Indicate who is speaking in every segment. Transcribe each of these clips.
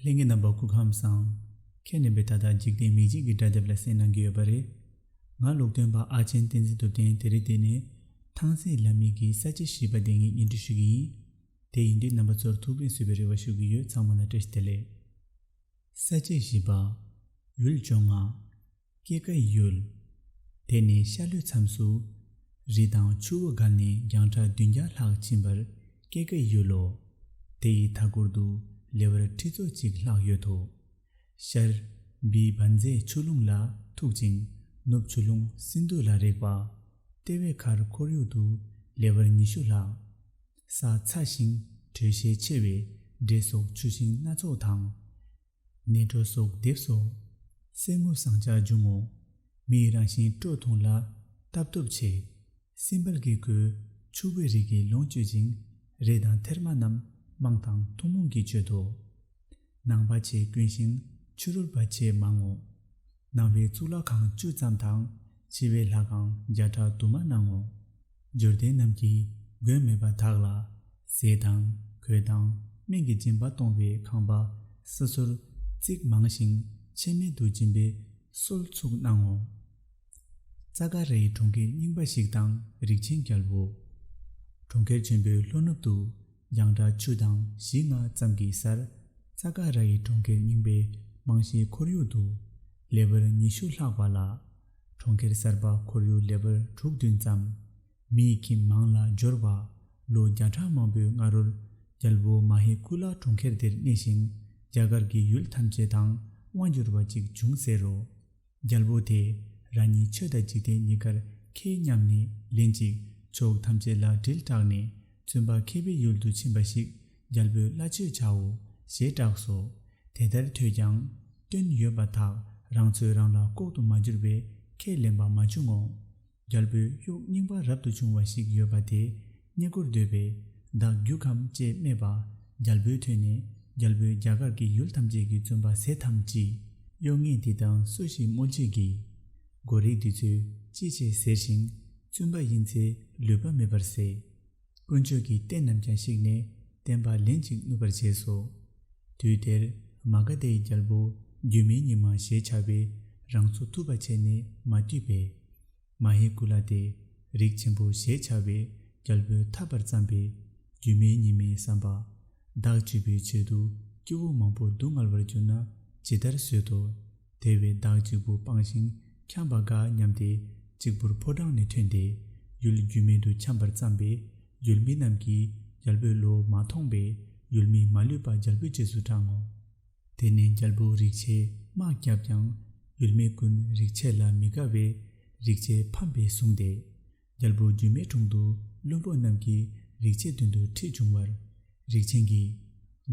Speaker 1: ལྷན་གྱི་རྣམ་པ་སྐུ་ཁམས་བཟང། ཁྱེད་ནི་བས་ད་ལྟ་འཇིག་རྟེན་མིག་འབྱེད་ཀྱི་སྒྲ་དེབ་ལ་གསན་གནང་གི་ཡོད་པ་རེད། ང་ལུགས་སྟོན་པ་ཨ་ཆེན་བསྟན་འཛིན་ཐུབ་བསྟན་དེ་རིང་འདི་ནས་ཐང་སེ་ལ་མིག་གི་ས་བཅད་ཞེས་པ་དེ་ངས་ཉིན་བསྒྲིགས་ཞུ་གི་ཡིན། དེ་ཡིན་དུས་རྣམ་པ་ཚོར་ཐུགས་ཕན་གསོས་པའི་རེ་བ་ཞུ་གི་ཡོད་ཚང་མ་ལ་བཀྲ་ཤིས་བདེ་ལེགས། ས་བཅད་བཞི་པ། འོད་འབྱུང་ང། སྐྱེ་དཀའ་ཡུལ། དེ་ནས་ཤར་ལྷོའི་མཚམས་སུ། རི་དང་ཆུ་བོ་བརྒལ་ནས་རྒྱང་གྲགས་བདུན་བརྒྱ་ལྷག་ཕྱིན་པར་སྐྱེ་དཀའ་ཡུལ་ལོ། དེ་ཡི་མཐའ་སྐོར་དུ་ལེ་བར་ཁྲི་ཚོ་གཅིག་ལྷག་ཡོད་དོ། ཤར། བི་བྷ་མཛེས་ཆུ་ཀླུང་ལ་ཐུག་ཅིང་ནུབ་ཆུ་ཀླུང་སིནྡྷུ་ལ་རེག་པ། ལྟེ་བའི་ཁར་ཁོར་ཡུག་ཏུ་ལེ་བར་ཉི་ཤུ་ལྷག། ས་ཚ་ཞིང་དྲོད་ཤས་ཆེ་བས་འབྲས་སོགས་ཆུ་ཤིང་སྣ་ཚོགས་དང། གནས་འགྲོ་སོགས་བསྡེབས་སོ། གསེར་དངུལ་ཟངས་ལྕགས་འབྱུང་ངོ། མི་ཡི་རང་བཞིན་སྤྲོ་ཐོང་ལ། རྟ་བབས་ཆེ། སྲིན་བལ་གྱིས་གོས། ཕྱུག་པོའི་རིགས་ཀྱིས་ལོངས་སྤྱོད་ཅིང། རས་དང་ཐེར་མ་རྣམས་དམངས་དང་ཐུན་མོང་གིས་སྤྱོད་དོ། ནང་པ་ཆེས་དཀོན་ཞིང་ཕྱི་རོལ་པ་ཆེས་མང་ངོ། ནང་པའི་གཙུག་ལག་ཁང་བཅུ་ཙམ་དང་ཕྱི་པའི་ལྷ་ཁང་བརྒྱ་ཕྲག་དུ་མ་སྣང་ངོ། འབྱོར་ལྡན་རྣམས་ཀྱིས་མགོན་མེད་པ་དག་ལ། ཟས་དང་གོས་དང་སྨན་གྱི་སྦྱིན་པ་གཏོང་བའི་ཁང་པ་སོ་སོར་རྩིག་མང་ཞིང་ཆད་མེད་དུ་སྦྱིན་པའི་སྲོལ་ཚུགས་སྣང་ངོ། ཙཱ་ཀ་རའི་གྲོང་ཁྱེར་རྙིང་པ་ཞིག་དང་རིགས་ཆེན་རྒྱལ་པོ། གྲོང་ཁྱེར་ཆེན་པོའི་ལྷོ་ནུབ་ཏུ་རྒྱང་གྲགས་བཅུ་དང་བཞི་ལྔ་ཙམ་གྱི་སར་རྩ་ཀ་ར་ཡི་གྲོང་ཁྱེར་རྙིང་པའི་རྨང་གཞིའི་ཁོར་ཡུག་ཏུ། ལེ་བར་ཉི་ཤུ་ལྷག་པ་ལ། གྲོང་ཁྱེར་གསར་པ་ཁོར་ཡུག་ལེ་བར་དྲུག་བདུན་ཙམ། མིའི་ཁྱིམ་མང་ལ་སྦྱོར་བ། ལོ་བརྒྱ་ཕྲག་མང་པོའི་སྔ་རོལ། རྒྱལ་པོ་མ་ཧེ་ཀུ་ལ་གྲོང་ཁྱེར་འདིར་གནས་ཤིང་རྒྱ་གར་གྱི་ཡུལ་ཐམས་ཅད་དང་དབང་བསྒྱུར་བ་ཅིག་བྱུང་ཟེར་རོ། རྒྱལ་པོ་དེས་རང་ཉིད་ཆོས་དང་འཇིག་རྟེན་གཉིས་ཀར་མཁས་སྙམ་ནས་ལན་ཅིག་ཕྱོགས་ཐམས་ཅད་ལ་དྲིལ་བསྒྲགས་ནས་བཙུན་པ་མཁས་པའི་ཡུལ་དུ་ཕྱིན་པ་ཞིག་རྒྱལ་པོས་སླ་ཆོས་བྱའོ་ཞེས་བསྒྲགས་སོ། དེ་ལྟར་ཐོས་ཀྱང། སྐྱོན་ཡོད་པ་དག་རང་ཚོད་རང་ལ་ལྐོག་ཏུ་མ་གྱུར་པས་ཁས་ལེན་པ་མ་བྱུང་ངོ། རྒྱལ་པོའི་དབྱུག་རྙིང་པ་རབ་ཏུ་བྱུང་བ་ཞིག་ཡོད་པ་དེ་རྙེད་དགུར་འདོད་པས་བདག་རྒྱུག་གམ་ཅེས་སྨྲས་པ། རྒྱལ་པོས་ཐོས་ནས་རྒྱལ་པོའི་རྒྱ་གར་གྱི་ཡུལ་ཐམས་ཅད་ཀྱི་བཙུན་པ་ཟས་ཐམས་ཅད་གཡོག་ངས་འདི་དང་སུ་ཞིག་སྨོད་བྱེད་ཀྱི། མགོ་རིགས་འདི་ཚོས་ཅི་བྱེད་ཟེར་ཞིང་བཙུན་པ་ཡིན་ཚེ་ལུས་པ་མེད་པར་ཟད། དཀོན་མཆོག་གི་རྟེན་རྣམས་ཀྱང་བཤིག་ནས་བསྟན་པ་ལན་གཅིག་བསྣུབས་པར་བྱས་སོ། དུས་དེར་མ་ག་དཱའི་རྒྱལ་པོ་སྒྱུ་མའི་ཉི་མ་ཞེས་བྱ་བས་རང་ཚུགས་ཐུབ་པར་བྱས་ནས་མ་བཏུས་པས། མ་ཧེ་ཀུ་ལ་དེས་རིགས་ཆེན་པོ་ཞེས་བྱ་བའི་རྒྱལ་པོའི་མཐའ་བར་བརྩམས་པས་སྒྱུ་མའི་ཉི་མའི་བསམ་པ། བདག་སྤྱི་བོའི་ཕྱིར་དུ་སྐྱེ་བོ་མང་པོ་སྡུག་བསྔལ་བར་གྱུར་ན་ཇི་ལྟར་བཟོད་དོ། དེ་བས་བདག་གཅིག་པུ་སྤངས་ཤིང་འཁྱམས་པ་དགའ་སྙམ་སྟེ་གཅིག་པུར་ཕོ་བྲང་ནས་ཐོན་ཏེ་ཡུལ་རྒྱུས་མེད་དུ་འཁྱམས་པར་བརྩམས་པས་ཡུལ་མི་རྣམས་ཀྱིས་རྒྱལ་པོའི་བློ་མ་ཐོངས་པས་ཡུལ་མིས་མ་ལུས་པ་རྒྱལ་པོའི་རྗེས་སུ་འབྲང་ངོ། དེ་ནས་རྒྱལ་པོ་རིག་བྱེད་དམག་བརྒྱབ་ཀྱང་ཡུལ་མི་ཀུན་རིག་བྱེད་ལ་མི་དགའ་བས་རིག་བྱེད་ཕམ་པས་བཟུང་སྟེ། རྒྱལ་པོ་སྒྱུ་མའི་དྲུང་དུ་བློན་པོ་རྣམས་ཀྱིས་རིག་བྱེད་མདུན་དུ་ཁྲིད་བྱུང་བར། རིག་བྱེད་ཀྱིས།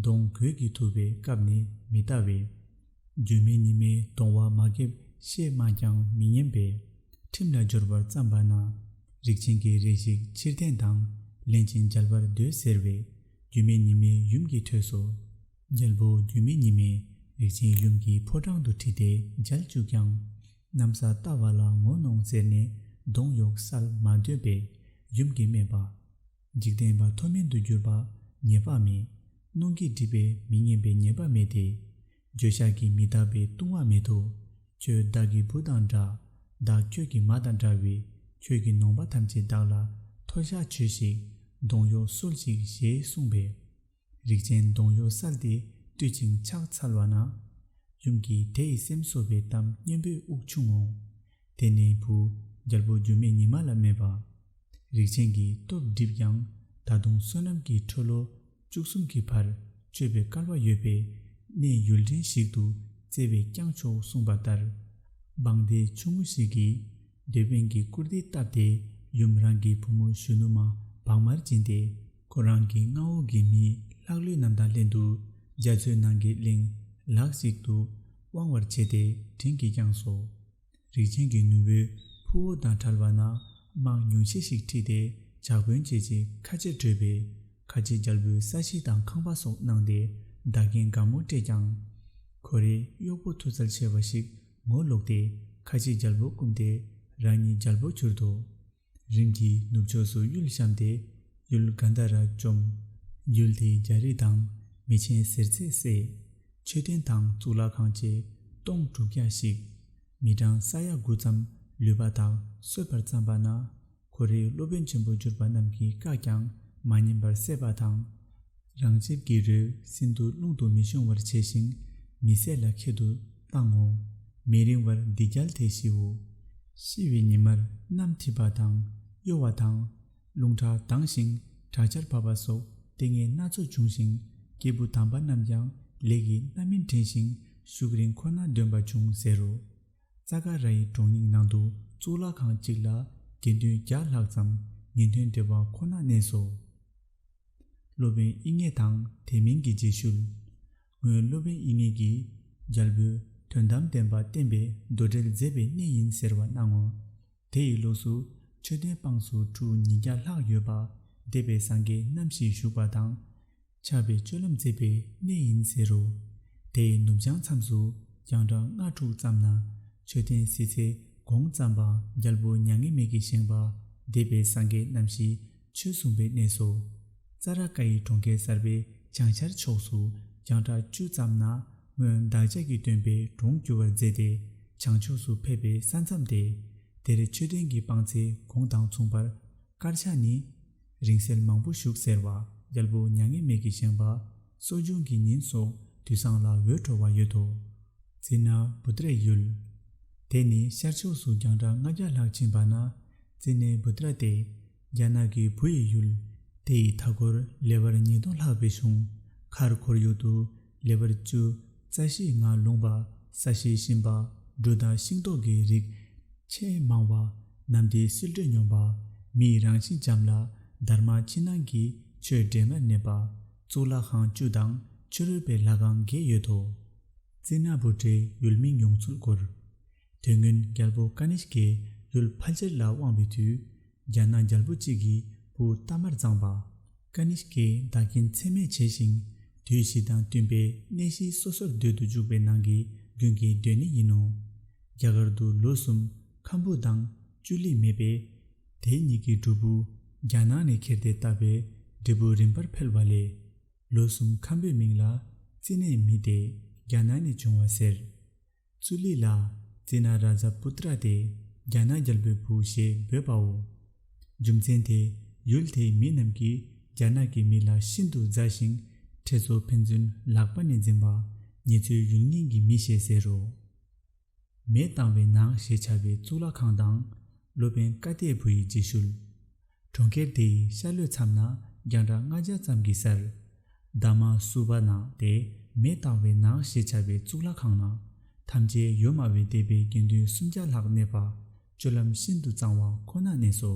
Speaker 1: གདོང་གོས་ཀྱིས་ཐུབ་པའི་སྐབས་ནི་མི་ལྟ་བས། སྒྱུ་མའི་ཉི་མའི་གདོང་བ་མ་འགེབ་ཤེས་སྨྲས་ཀྱང་མི་ཉན་པས། ཁྲིམས་ལ་སྦྱོར་བར་བརྩམས་པ་ན། རིག་བྱེད་ཀྱིས་རེ་ཞིག་ཕྱིར་བསྟན་དང་ལེན་ཅིང་མཇལ་བར་འདོད་ཟེར་བས། སྒྱུ་མའི་ཉི་མའི་ཡུམ་གྱིས་ཐོས་སོ། རྒྱལ་པོ་སྒྱུ་མའི་ཉི་མས་རིག་བྱེད་ཡུམ་གྱི་ཕོ་བྲང་དུ་ཁྲིད་དེ་མཇལ་བཅུག་ཀྱང། གནམ་ས་བལྟ་བ་ལ་ངོ་གནོང་བརྩེར་ནས་གདོང་གཡོགས་གསལ་མ་འདོད་པས་ཡུམ་གྱིས་སྨྲས་པ། འཇིག་རྟེན་པ་མཐོ་དམན་དུ་གྱུར་པ་ཉེས་པ་མེད། གནོང་གིས་སྒྲིབ་པས་མི་སྙན་པའི་ཉེས་པ་མེད་དེ། འགྱོད་བཤགས་ཀྱིས་མི་རྟག་པའི་ལྟུང་བ་མེད་དོ། ཁྱོད་བདག་གི་བུ་དང་འདྲ། བདག་ཁྱོད་ཀྱི་མ་དང་འདྲ་བས་ཁྱོད་ཀྱི་ནོངས་པ་ཐམས་ཅད་བདག་ལ་མཐོལ་བཤགས་བྱོས་ཤིག། གདོང་གཡོགས་གསོལ་ཅིག་ཞེས་གསུངས་པས། རིགས་ཅན་གདོང་གཡོགས་སལ་དེ་བཏུད་ཅིང་ཕྱག་འཚལ་བ་ན། ཡུམ་གྱིས་དེ་ཡི་སེམས་གསོ་བའི་གཏམ་སྙན་པོས་དབུགས་ཕྱུང་ངོ། དེ་ནས་བུ་རྒྱལ་པོ་འགྱུར་མེད་ཉི་མ་ལ་སྨྲས་པ། རིགས་ཅན་གྱི་སྟོབས་བསྒྲིབས་ཀྱང་ད་དུང་བསོད་ནམས་ཀྱི་འཕྲོ་ལོ་བཅུ་གསུམ་གྱི་བར་གཅོད་པའི་སྐལ་བ་ཡོད་པས་གནས་ཡུལ་འདྲེན་ཞིག་ཏུ་བཙལ་བས་ཀྱང་ཆོག་གསུངས་པ་ལྟར། འབངས་སྡེ་ཆུང་ངུ་ཞིག་གིས། སྡེ་དཔོན་གྱིས་བཀུར་སྟི་བཏབ་སྟེ་ཡུམ་རང་གི་བུ་མོ་གཞོན་ནུ་མ་བག་མར་བྱིན་ཏེ་ཁོ་རང་གི་མངའ་འོག་གི་མིའི་ལྷག་ལུས་རྣམས་དང་ལྷན་དུ་རྒྱ་མཚོའི་ནང་གི་གླིང་ལགས་ཤིག་ཏུ་དབང་བར་བྱས་ཏེ་དྲིན་གྱིས་བསྐྱངས་སོ། རིགས་ཅན་གྱི་ནུ་བོའི་ཕུ་བོ་དང་བྲལ་བ་ན་དམག་ཉུང་ཤས་ཤིག་ཁྲིད་དེ་ཇག་དཔོན་བྱེད་ཅིང་ཁ་ཆེར་བྲོས་པས་ཁ་ཆེ་རྒྱལ་པོའི་ས་གཞི་དང་ཁང་པ་སོགས་བརྣངས་ཏེ་བདག་རྐྱེན་དགའ་མོ་སྤྲད་ཀྱང། ཁོ་རེའི་གཡོག་པོ་མཐུ་རྩལ་ཆེ་བ་ཞིག་ངོ་བསློགས་ཏེ་ཁ་ཕྱེ་རྒྱལ་པོར་བསྐུམས་ཏེ་རང་ཉིད་རྒྱལ་པོར་གྱུར་ཏོ། རིམ་གྱིས་ནུབ་ཕྱོགས་སུ་གཡུལ་བཤམས་ཏེ་གཡུལ་གཱནྡ་ར་བཅོམ། གཡུལ་དེའི་རྒྱལ་རིགས་དང་མི་ཆེན་གཟེར་ཚད་བསད། མཆོད་རྟེན་དང་གཙུག་ལག་ཁང་བཅས་སྟོང་དྲུག་བརྒྱ་ཞིག། མི་གྲངས་ས་ཡ་དགུ་ཙམ་ལུས་པ་དག་གསོད་པར་བརྩམས་པ་ན། ཁོ་རེའི་སློབ་དཔོན་ཆེན་པོ་གྱུར་པ་རྣམས་ཀྱིས་བཀག་ཀྱང་མ་ཉན་པར་བསད་པ་དང། རང་ཆིབས་ཀྱི་རུས་སྲིན་དུ་རླུང་དུ་མི་ཤོང་བར་བྱས་ཤིང་མི་བསད་ལ་ཁྱད་དུ་བཏང་ངོ། མི་རིང་བར་འདི་རྒྱལ་དེས་ཤིའོ། ཤི་བའི་ཉི་མར་སྣམ་མཐིལ་པ་དང་གཡོ་བ་དང། རླུང་ཁྲག་ལྡང་ཞིང་དྲག་ཆར་བབས་པ་སོགས་ལྟས་ངན་སྣ་ཚོགས་འབྱུང་ཞིང་སྐྱེས་བུ་དམ་པ་རྣམས་ཀྱང་ལས་ཀྱི་རྣམ་སྨིན་དྲན་ཞིང་ཤུགས་རིང་ཁོ་ན་འདོན་པ་འབྱུང་ཟེར་རོ། རྩ་ཀ་ར་ཡི་གྲོང་རྙིང་ནང་དུ་གཙུག་ལག་ཁང་གཅིག་ལ་དགེ་འདུན་བརྒྱ་ལྷག་ཙམ་ཉིན་ཐུན་སྦྲེལ་བ་ཁོ་ན་གནས་སོ། སློབ་དཔོན་དབྱིག་གཉེན་དང་དེ་མིན་གྱི་རྗེས་ཤུལ། སྔོན་སློབ་དཔོན་དབྱིག་གཉེན་གྱིས་རྒྱལ་པོས་དོན་དམ་བདེན་པ་བསྟན་པའི་མདོ་འགྲེལ་མཛད་པའི་གནས་ཡིན་ཟེར་བ་སྣང་ངོ། དེ་ཡི་ལུགས་སུ་མཆོད་རྟེན་དཔངས་སུ་ཁྲུ་ཉིས་བརྒྱ་ལྷག་ཡོད་པ་སྡེ་པའི་སངས་རྒྱས་རྣམ་བཞིས་བཞུགས་པ་དང། ཆགས་པའི་སྤྱོད་ལམ་མཛེས་པའི་གནས་ཡིན་ཟེར་རོ། དེའི་ནུབ་བྱང་མཚམས་སུ་རྒྱང་གྲགས་ལྔ་དྲུག་ཙམ་ན་མཆོད་རྟེན་བསིལ་ཚེ་གོང་བརྩམས་པ་རྒྱལ་པོ་མྱ་ངན་མེད་ཀྱིས་བཞེངས་པ་འདས་པའི་སངས་རྒྱས་རྣམ་བཞི་ཆོས་གསུངས་པའི་གནས་སོ། རྩ་ར་ཀ་ཡི་གྲོང་ཁྱེར་གསར་པའི་བྱང་ཤར་ཕྱོགས་སུ་རྒྱང་གྲགས་བཅུ་ཙམ་ན་སྔོན་བདག་ཅག་གི་སྟོན་པའི་གྲོང་བསྒྱུར་བར་མཛད་དེ་བྱང་ཕྱོགས་སུ་ཕེབས་པའི་ས་མཚམས་ཏེ། དེར་མཆོད་རྟེན་གྱི་དཔངས་ཚེ་གོང་དང་མཚུངས་པར་དཀར་ཆ་ནི། རིང་བསྲེལ་མང་པོ་བཞུགས་ཟེར་བ་རྒྱལ་པོ་མྱ་ངན་མེད་ཀྱིས་བཞེངས་པ་གསོ་སྦྱོང་གི་ཉིན་སོགས་དུས་བཟང་ལ་འོད་འཕྲོ་བ་ཡོད་དོ། ཙི་ན་བུ་ཏྲའི་ཡུལ། དེ་ནི་ཤར་ཕྱོགས་སུ་རྒྱང་གྲགས་ལྔ་བརྒྱ་ལྷག་ཕྱིན་པ་ན་ཙི་ནའི་བུ་ཏྲ་སྟེ། རྒྱ་ནག་གི་བུ་ཡི་ཡུལ། དེ་ཡི་མཐའ་འཁོར་ལེ་བར་ཉིས་སྟོང་ལྷག་པའི་གཞུང་མཁར་ཁོར་ཡུག་ཏུ། ལེ་བར་བཅུ། རྩ་ཤེས་ལྔ་ལུང་པ་ས་གཞིའི་ཤིང་པ་འབྲུ་དང་ཤིང་ཏོག་གི་རིགས། ཆེས་མང་བ། གནམ་བདེ་བསིལ་དྲོད་སྙོམས་པ། མིའི་རང་བཞིན་འཇམ་ལ། དར་མ་ཕྱི་ནང་གི་ཆོས་འབྲེལ་སྔར་གནས་པ། གཙུག་ལག་ཁང་བཅུ་དང་ཕྱི་རོལ་པའི་ལྷ་ཁང་བརྒྱད་ཡོད་དོ། རྩིས་སྣ་བུ་དྲེའི་ཡུལ་མིང་ཡོངས་ཚུལ་སྐོར། དེ་སྔོན་རྒྱལ་པོ་ཀ་ནི་ཤཀས་ལུལ་ཕལ་ཆེར་ལ་དབང་བའི་དུས། རྒྱ་ནག་རྒྱལ་པོ་གཅིག་གིས་བུ་རྟ་མར་བརྫངས་པ། ཀ་ནི་ཤཀས་བདག་རྐྱེན་ཚད་མེད་བྱས་ཤིང། དུས་བཞི་དང་བསྟུན་པའི་གནས་གཞི་སོ་སོར་སྡོད་དུ་འཇུག་པའི་ནང་གི་རྒྱུན་གྱི་སྡོད་གནས་ཡིན་ནོ། རྒྱ་གར་དུ་ལོ་གསུམ་ཁམ་བུ་དང་ཅུ་ལི་མེད་པས། དེ་གཉིས་ཀྱི་སྒྲུབ་པོ་རྒྱ་ནག་ནས་ཁྱེར་ཏེ་བཏབ་པའི་འབྲས་བུ་རིམ་པར་འཕེལ་བ་ལས། ལོ་གསུམ་ཁམ་བུའི་མིང་ལ་རྩིས་གནས་མི་དེ་རྒྱ་ནག་ནས་བྱུང་བ་ཟེར། ཙུ་ལི་ལ་ཙི་ན་ར་ཛ་པུ་ཏི་ར་དེ་རྒྱ་ནག་རྒྱལ་པོའི་བུ་ཞེས་འབོད་པའོ། རྒྱུ་མཚན་དེས་ཡུལ་དེའི་མི་རྣམས་ཀྱིས་རྒྱ་ནག་གི་མི་ལ་ཤིན་ཏུ་མཛའ་ཞིང་ཁྲེ་ཚོ་ཕན་ཚུན་ལག་པ་ནས་འཛིན་པ་ངེད་ཚོའི་ཡུལ་རྙིང་གི་མི་ཞེས་ཟེར་རོ། མས་བཏང་བའི་ནང་ཞེས་བྱ་བའི་གཙུག་ལག་ཁང་དང། སློབ་དཔོན་བཀའ་གཏད་བུ་ཡི་རྗེས་ཤུལ། གྲོང་ཁྱེར་དེའི་ཤར་ལྷོའི་མཚམས་ན་རྒྱང་གྲགས་ལྔ་བརྒྱ་ཙམ་གྱི་སར། འདབ་མ་སུ་བ་ན་དེ་མེ་བཏང་བའི་ནགས་ཞེས་བྱ་བའི་གཙུག་ལག་ཁང་ན། ཐམས་ཅད་ཡོད་སྨྲ་བའི་སྡེ་པའི་དགེ་འདུན་སུམ་བརྒྱ་ལྷག་གནས་པ། སྤྱོད་ལམ་ཤིན་ཏུ་གཙང་བ་ཁོ་ན་གནས་སོ།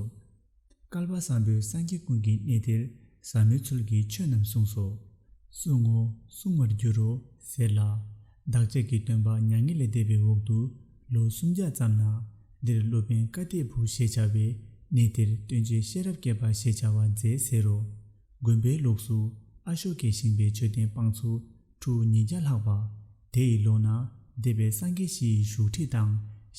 Speaker 1: བསྐལ་པ་བཟང་པོའི་སངས་རྒྱས་ཀུན་གྱི་གནས་དེར་ཟབ་མོའི་ཚུལ་གྱིས་ཆོས་རྣམས་གསུངས་སོ། གསུང་ངོ། གསུང་བར་འགྱུར་རོ། ཟེར་ལ། བདག་ཅག་གི་སྟོན་པ་མྱ་ངན་ལས་འདས་པའི་འོག་ཏུ་ལོ་སུམ་བརྒྱ་ཙམ་ན། འདིར་སློབ་དཔོན་བཀའ་གཏེར་བུ་ཞེས་བྱ་བས་གནས་དེར་སྟོན་བྱེད་ཤེས་རབ་བསྐལ་པ་ཞེས་བྱ་བ་མཛད་ཟེར་རོ། དགོན་པའི་ལུགས་སུ་ཨ་ཤོ་ཀའི་ཞིང་པའི་མཆོད་རྟེན་དཔངས་ཚོ་ཁྲུ་ཉིས་བརྒྱ་ལྷག་པ། དེ་ཡི་ལོགས་ན་སྡེ་པའི་སངས་རྒྱས་བཞི་ཡི་བཞུགས་ཁྲི་དང་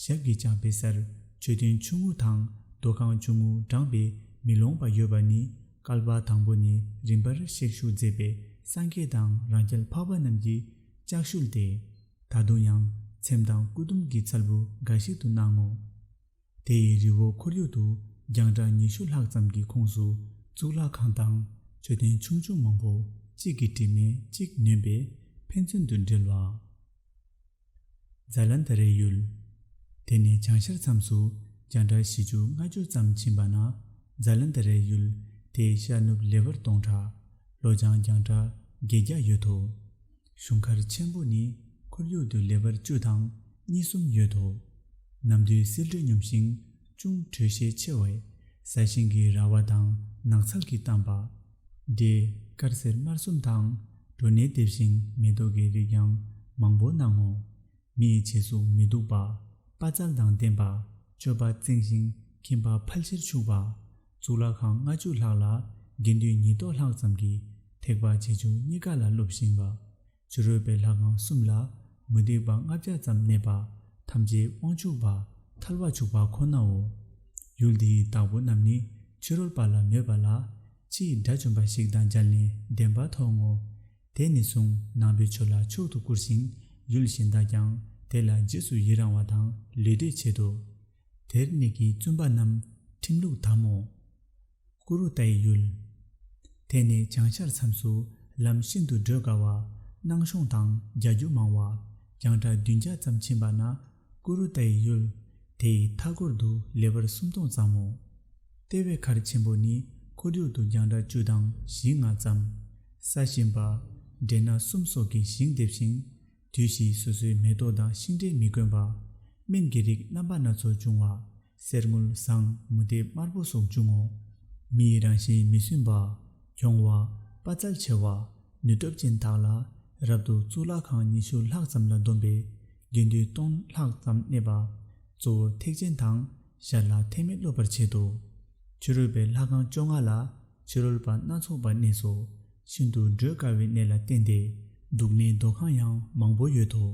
Speaker 1: ཞབས་ཀྱི་བྱང་པའི་སར་མཆོད་རྟེན་ཆུང་ངུ་དང་རྡོ་ཁང་ཆུང་ངུ་བགྲངས་པས་མི་ལོངས་པ་ཡོད་པ་ནི་བསྐལ་པ་དང་པོ་ནས་རིམ་པར་གཤེགས་བཞུགས་མཛད་པའི་སངས་རྒྱས་དང་རང་རྒྱལ་འཕགས་པ་རྣམས་ཀྱི་ལྕགས་ཤུལ་དེ་ད་དུང་ཡང་ཚེམས་དང་སྐུ་དུམ་གྱི་ཚལ་བུ་འགའ་ཞིག་ཏུ་སྣང་ངོ། དེ་ཡི་རི་བོ་ཁོར་ཡུག་ཏུ་རྒྱང་གྲགས་ཉི་ཤུ་ལྷག་ཙམ་གྱི་ཁོངས་སུ་གཙུག་ལག་ཁང་དང་མཆོད་རྟེན་ཆུང་ཆུང་མང་བོ་གཅིག་གི་དྲི་མས་གཅིག་ནོན་པས་ཕན་ཚུན་དུ་འབྲེལ་བ། Zalanda རས་ཡུལ། དེ་ནས་བྱང་ཤར་མཚམས་སུ་རྒྱང་གྲགས་བཞི་ཅུ་ལྔ་ཅུ་ཙམ་ཕྱིན་པ་ན Zalanda རས་ཡུལ་དེའི་ཤར་ནུབ་ལེ་བར་སྟོང་ཕྲག་ལོ་བྱང་རྒྱང་གྲགས་བརྒྱད་བརྒྱ་ཡོད་དོ། གཞུང་མཁར་ཆེན་པོ་ནི་ཁོར་ཡུག་ཏུ་ལེ་བར་བཅུ་དང་གཉིས་གསུམ་ཡོད་དོ། ནམ་དུས་སིལ་དྲོད་སྙོམས་ཤིང་ཅུང་དྲོད་ཤས་ཆེ་བས་ས་ཞིང་གི་ར་བ་དང་ནགས་ཚལ་གྱི་གཏམས་པ། འབྲས་དཀར་སེར་དམར་གསུམ་དང་གྲོ་ནས་དེབ་ཤིང་མེ་ཏོག་གི་རིགས་ཀྱང་མང་པོ་སྣང་ངོ། མི་ཡི་བྱད་གཟུགས་མི་སྡུག་པ། དཔའ་རྩལ་དང་ལྡན་པ། སྤྱོད་པ་གཙང་ཞིང་ཁྱིམ་པ་ཕལ་ཆེར་ཕྱུག་པ། གཙུག་ལག་ཁང་ལྔ་བཅུ་ལྷག་ལ་དགེ་འདུན་ཉིས་སྟོང་ལྷག་ཙམ་གྱི་ཐེག་པ་ཆེ་ཆུང་གཉིས་ཀ་ལ་སློབ་བཞིན་པ། ཕྱི་རོལ་པའི་ལྷ་ཁང་གསུམ་ལ་མུ་སྟེགས་པ་ལྔ་བརྒྱ་ཙམ་གནས་པ་ཐམས་ཅད་དབང་ཕྱུག་པ་ཐལ་བ་བྱུགས་པ་ཁོ་ནའོ། ཡུལ་འདིའི་བདག་པོ་རྣམས་ནི་ཕྱི་རོལ་པ་ལ་མོས་པ་ལ། ཕྱིའི་དགྲ་བཅོམ་པ་ཞིག་དང་སྦྱར་ནས་བདེན་པ་མཐོང་ངོ། དེ་ནས་བཟུང་ནང་པའི་ཆོས་ལ་མཆོག་ཏུ་བཀུར་ཞིང་ཡུལ་གཞན་དག་ཀྱང་དེ་ལ་རྗེས་སུ་ཡི་རང་བ་དང་ལུས་འབྲེལ་བྱེད་དོ། དེར་གནས་ཀྱི་བཙུན་པ་རྣམས་ཁྲིམས་ལུགས་དམ་མོ། ཀུ་རུ་ཏའི་ཡུལ། དེ་ནས་བྱང་ཤར་མཚམས་སུ་ལམ་ཤིན་ཏུ་བགྲོད་དཀའ་བ། སྣང་གཤོང་དང་རྒྱ་སྒྱུ་མང་བ། གྱང་གྲགས་བདུན་བརྒྱ་ཙམ་ཕྱིན་པ་ན་ཀུ་རུ་ཏའི་ཡུལ། དེའི་མཐའ་སྐོར་དུ་ལེ་བར་སུམ་སྟོང་ཙམ་མོ། ལྟེ་བའི་མཁར་ཆེན་པོ་ནི་འཁོར་རྒྱུག་ཏུ་གྱང་གྲགས་བཅུ་དང་བཞི་ལྔ་ཙམ། ས་གཤིན་པ། འབྲས་སྣ་གསུམ་སོགས་ཀྱི་ཞིང་འདེབས་ཤིང། དུས་བཞིའི་སོ་སོའི་མེ་ཏོག་དང་ཤིང་འབྲས་མི་དཀོན་པ། སྨན་གྱི་རིགས་རྣམ་པ་སྣ་ཚོགས་འབྱུང་བ། གསེར་དངུལ་ཟངས་མུ་ཏིག་དམར་པོ་སོགས་འབྱུང་ངོ། མི་ཡི་རང་བཞིན་མི་སྲུན་པ། གྱོང་བ། དཔའ་རྩལ་ཆེ་བ། ནུས་སྟོབས་ཅན་དག་ལ། རབ་ཏུ་གཙུག་ལག་ཁང་ཉི་ཤུ་ལྷག་ཙམ་ལ་འདོམས་པའི། དགེ་འདུན་སྟོང་ལྷག་ཙམ་གནས་པ། གཙོ་བོ་ཐེག་ཆེན་དང། ཞར་ལ་ཐེག་དམན་སློབ་པར་བྱེད་དོ། ཕྱི་རོལ་པའི་ལྷ་ཁང་བཅོ་ལྔ་ལ། ཕྱི་རོལ་པ་སྣ་ཚོགས་པར་གནས་སོ། ཤིན་ཏུ་བགྲོད་དཀའ་བའི་གནས་ལ་བརྟེན་ཏེ། འདུག་མའི་རྡོ་ཁང་ཡང་མང་པོ་ཡོད་དོ།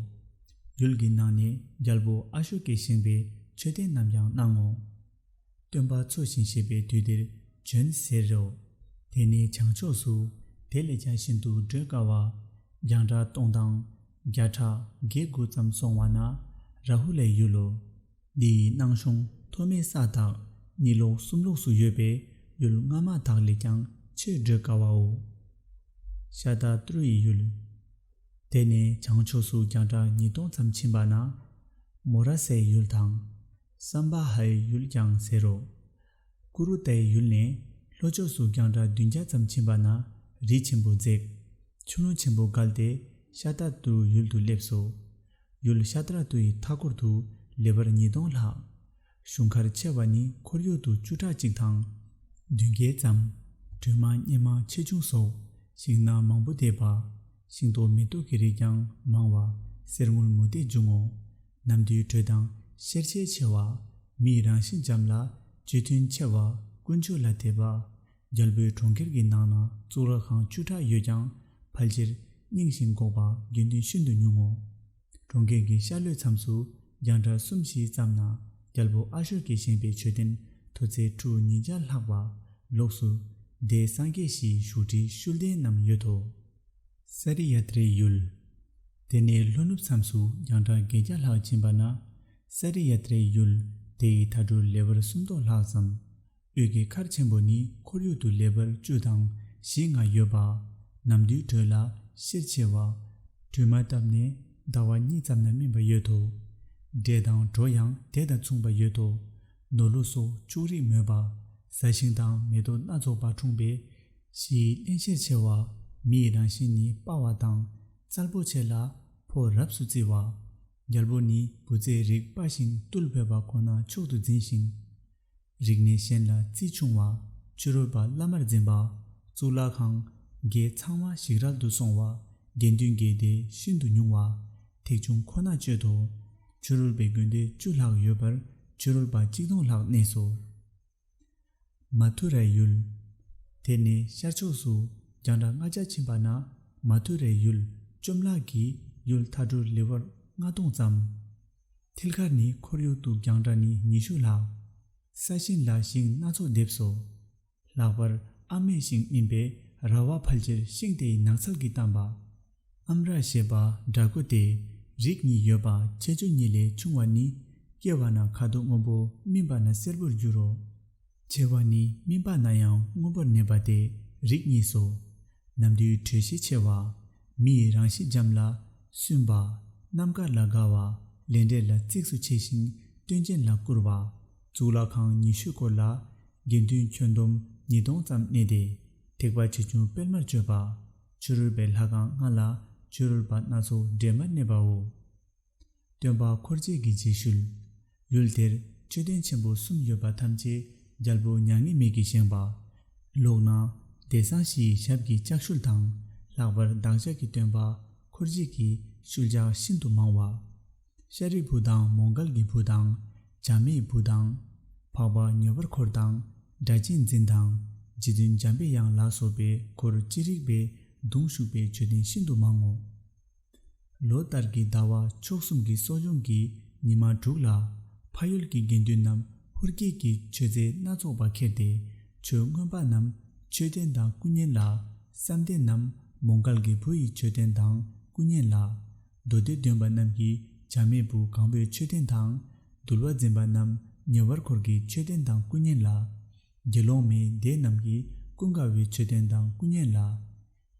Speaker 1: ཡུལ་གྱི་ནང་ནས་རྒྱལ་པོ་ཨ་ཤོ་ཀས་བཞེངས་པའི་མཆོད་རྟེན་རྣམས་ཀྱང་སྣང་ངོ། སྟོན་པ་འཚོ་ཞིང་གཤེགས་པའི་དུས་དེར་བྱོན་ཟེར་རོ། དེ་ནས་བྱང་ཕྱོགས་སུ། དེ་ལས་ཀྱང་ཤིན་ཏུ་བགྲོད་དཀའ་བ། རྒྱང་གྲགས་སྟོང་དང། བརྒྱ་ཕྲག་བརྒྱད་དགུ་ཙམ་སོང་བ་ན། རཱ་ཧུ་ལའི་ཡུལ་ལོ། འདི་ཡི་སྣང་གཞུང་མཐོ་དམན་ས་དག་ནི་ལོག་གསུམ་ལོགས་སུ་ཡོད་པས་ཡུལ་སྔ་མ་དག་ལས་ཀྱང་ཆེས་བགྲོད་དཀའ་བའོ། ཤ་དག་ཏུར་ཡི་ཡུལ། དེ་ནས་བྱང་ཕྱོགས་སུ་རྒྱང་གྲགས་ཉིས་སྟོང་ཙམ་ཕྱིན་པ་ན། མོ་ར་སའི་ཡུལ་དང། སམྦ་ཧའི་ཡུལ་ཀྱང་ཟེར་རོ། ཀུ་རུ་ཏའི་ཡུལ་ནས་ལྷོ་ཕྱོགས་སུ་རྒྱང་གྲགས་བདུན་བརྒྱ་ཙམ་ཕྱིན་པ་ན་རི་ཆེན་པོ་འཛེགས། ཆུ་ཀླུང་ཆེན་པོ་བརྒལ་ཏེ་ཤ་ཏཱ་ཏུ་ཡུལ་དུ་སླེབས་སོ། ཡུལ་ཤ་ཏཱ་ཏུ་ཡི་མཐའ་སྐོར་དུ་ལེ་བར་ཉིས་སྟོང་ལྷག། གཞུང་མཁར་ཆེ་བ་ནི་ཁོར་ཡུག་ཏུ་བཅུ་ཕྲག་གཅིག་དང། བདུན་བརྒྱད་ཙམ། དྲོད་མང་གཉན་མང་ཆེ་ཆུང་སོགས་ཞིང་སྣ་མང་པོ་འདེབས་པ། ཤིང་ཏོག་མེ་ཏོག་གི་རིགས་ཀྱང་མང་བ་གསེར་དངུལ་མུ་ཏིག་འབྱུང་ངོ། རྣམས་དུད་འགྲོས་དང་ཤེར་ཕྱིན་ཆེ་བ། མིའི་རང་བཞིན་འཇམ་ལ་རྗེས་མཐུན་ཆེ་བ་དཀོན་མཆོག་ལ་དད་པ། རྒྱལ་པོའི་གྲོང་ཁྱེར་གྱི་ནང་ན་གཙུག་ལག་ཁང་བཅུ་ཕྲག་ཡོད་ཀྱང་ཕལ་ཆེར་རྙིང་ཞིང་འགོག་པ་དགེ་འདུན་ཤིན་ཏུ་ཉུང་ངོ། གྲོང་ཁྱེར་གྱི་ཤར་ལྷོའི་མཚམས་སུ་རྒྱང་གྲགས་གསུམ་བཞི་ཙམ་ན་རྒྱལ་པོ་ཨ་ཤོ་ཀས་བཞེངས་པའི་མཆོད་རྟེན་མཐོ་ཚད་ཁྲུ་ཉིས་བརྒྱ་ལྷག་པ། ལོགས་སུ། རྡའི་སངས་རྒྱས་བཞིའི་བཞུགས་ཁྲི་ཤུལ་ལྡན་རྣམས་ཡོད་དོ། སཱ་རི་ཡ་ཏྲའི་ཡུལ། དེ་ནས་ལྷོ་ནུབ་མཚམས་སུ་རྒྱང་གྲགས་བརྒྱད་བརྒྱ་ལྷག་ཕྱིན་པ་ན་སཱ་རི་ཡ་ཏྲའི་ཡུལ། དེ་ཡི་མཐའ་གྲུ་ལེ་བར་སུམ་སྟོང་ལྷག་ཙམ། དབུས་ཀྱི་མཁར་ཆེན་པོ་ནི་ཁོར་ཡུག་ཏུ་ལེ་བར་བཅུ་དང་བཞི་ལྔ་ཡོད་པ། ནམ་དུས་དྲོད་ལ་གཤེར་ཆེ་བ། དྲོད་མ་བཏབ་ནས་ཟླ་བ་གཉིས་ཙམ་ན་སྨིན་པ་ཡོད་དོ། འབྲས་དང་གྲོ་ཡང་དེ་དང་མཚུངས་པ་ཡོད་དོ། ནོར་ལུག་སོགས་ཕྱུགས་རིགས་མོད་པ། བཟའ་ཤིང་དང་མེ་ཏོག་སྣ་ཚོགས་པ་འཁྲུངས་པས། གཞིའི་བརླན་གཤེར་ཆེ་བ། མི་ཡི་རང་བཞིན་ནི་དཔའ་བ་དང། རྩལ་པོ་ཆེ་ལ་ཕོ་རབས་སུ་བརྩི་བ། རྒྱལ་པོ་ནི་བུ་བཙའི་རིགས་དཔའ་ཞིང་རྟུལ་ཕོད་པ་ཁོ་ན་མཆོག་ཏུ་འཛིན་ཞིང། རིགས་གནས་གཞན་ལ་བརྩི་ཆུང་བ། ཕྱི་རོལ་པ་བླ་མར་འཛིན་པ། གཙུག་ལག་ཁང། རྒྱའི་ཚང་བ་ཞིག་རལ་དུ་སོང་བ། དགེ་འདུན་འགས་དེ་ཤིན་ཏུ་ཉུང་བ། ཐེག་ཆུང་ཁོ་ན་སྤྱོད་དོ། ཕྱི་རོལ་པའི་དགོན་སྡེ་བཅུ་ལྷག་ཡོད་པར་ཕྱི་རོལ་པ་གཅིག་སྟོང་ལྷག་གནས་སོ། མ་ཐུ་རའི་ཡུལ། དེ་ནས་ཤར་ཕྱོགས་སུ་རྒྱང་གྲགས་ལྔ་བརྒྱ་ཕྱིན་པ་ན་མ་ཐུ་རའི་ཡུལ་བཅོམ་བརླག་གི་ཡུལ་མཐའ་དྲུག་ལི་ཝར་ལྔ་སྟོང་ཙམ། མཐིལ་ཁར་ནི་ཁོར་ཡུག་ཏུ་རྒྱང་གྲགས་ནི་ཉི་ཤུ་ལྷག། ས་ཞིང་ལ་ཤིང་སྣ་ཚོགས་འདེབས་སོ། ལྷག་པར་ཨ་མའི་ཤིང་སྨིན་པས་ར་བ་ཕལ་ཆེར་ཤིང་དེ་ཡི་ནགས་ཚལ་གྱིས་གཏམས་པ། ཨམ་ར་ཞེས་པ་འདྲ་སྐུ་སྟེ་རིགས་གཉིས་ཡོད་པ་ཁྱད་ཆོས་གཉིས་ལས་ཆུང་བ་ནི་སྐྱེ་བ་ན་ཁ་དོག་སྔོན་པོ་སྨིན་པ་ན་སེར་པོར་འགྱུར་རོ། ཆེ་བ་ནི་སྨིན་པ་ན་ཡང་སྔོན་པོར་གནས་པ་སྟེ་རིགས་གཉིས་སོ། ནམ་དུས་དྲོད་ཤས་ཆེ་བ། མི་ཡི་རང་གཤིས་འཇམ་ལ། སུན་པ། རྣམ་དཀར་ལ་དགའ་བ། ལས་འབྲས་ལ་གཙིགས་སུ་ཆེ་ཞིང་སྟོན་ཅན་ལ་བཀུར་བ། གཙུག་ལག་ཁང་ཉི་ཤུ་སྐོར་ལ། དགེ་འདུན་ཁྱོན་བསྡོམས་ཉིས་སྟོང་ཙམ་གནས་ཏེ། ཐེག་པ་ཆེ་ཆུང་སྤེལ་མར་སྤྱོད་པ། ཕྱི་རོལ་པའི་ལྷ་ཁང་ལྔ་ལ་ཕྱི་རོལ་པ་སྣ་ཚོགས་སྦྲེལ་མར་གནས་པའོ། སྟོན་པ་འཁོར་བཅས་ཀྱི་རྗེས་ཤུལ། ཡུལ་དེར་མཆོད་རྟེན་ཆེན་པོ་གསུམ་ཡོད་པ་ཐམས་ཅད་རྒྱལ་པོ་མྱ་ངན་མེད་ཀྱིས་བཞེངས་པ། ལོགས་ན་བདེ་གསང་བཞི་ཡི་ཞབས་ཀྱི་ལྕགས་ཤུལ་དང། ལྷག་པར་བདག་ཅག་གི་སྟོན་པ་འཁོར་བཅས་ཀྱི་ཤུལ་ལྕགས་ཤིན་ཏུ་མང་བ། ཤཱ་རིའི་བུ་དང་མོ་འགལ་གྱི་བུ་དང། བྱམས་མའི་བུ་དང། འཕགས་པ་ཉེ་བར་འཁོར་དང། སྒྲ་གཅན་འཛིན་དང། རྗེ་བཙུན་འཇམ་པའི་དབྱངས་ལ་སོགས་པའི་འཁོར་ཅི་རིགས་པས་གདུང་ཤུགས་པའི་མཆོད་རྟེན་ཤིན་ཏུ་མང་ངོ། ལོ་ལྟར་གྱི་ཟླ་བ་མཆོག་གསུམ་གྱི་གསོ་སྦྱོང་གི་ཉི་མ་དྲུག་ལ། ཕ་ཡུལ་གྱི་དགེ་འདུན་རྣམས་ཧུར་སྐྱེད་ཀྱི་མཆོད་རྫས་སྣ་ཚོགས་པ་ཁྱེར་ཏེ་མཆོད་རྔོན་པ་རྣམས་མཆོད་རྟེན་དང་སྐུ་བརྙན་ལ། བསམ་གཏན་རྣམས་མོ་འགལ་གྱི་བུ་ཡི་མཆོད་རྟེན་དང་སྐུ་བརྙན་ལ། མདོ་སྡེ་འདོན་པ་རྣམས་ཀྱིས་བྱ་མེད་བུ་གང་པོས་མཆོད་རྟེན་དང། འདུལ་བ་འཛིན་པ་རྣམས་ཉེ་བར་འཁོར་གྱི་མཆོད་རྟེན་དང་སྐུ་བརྙན་ལ། དགེ་སློང་མའི་སྡེ་རྣམས་ཀྱིས་ཀུན་དགའ་བོའི་མཆོད་རྟེན་དང་སྐུ་བརྙན་ལ།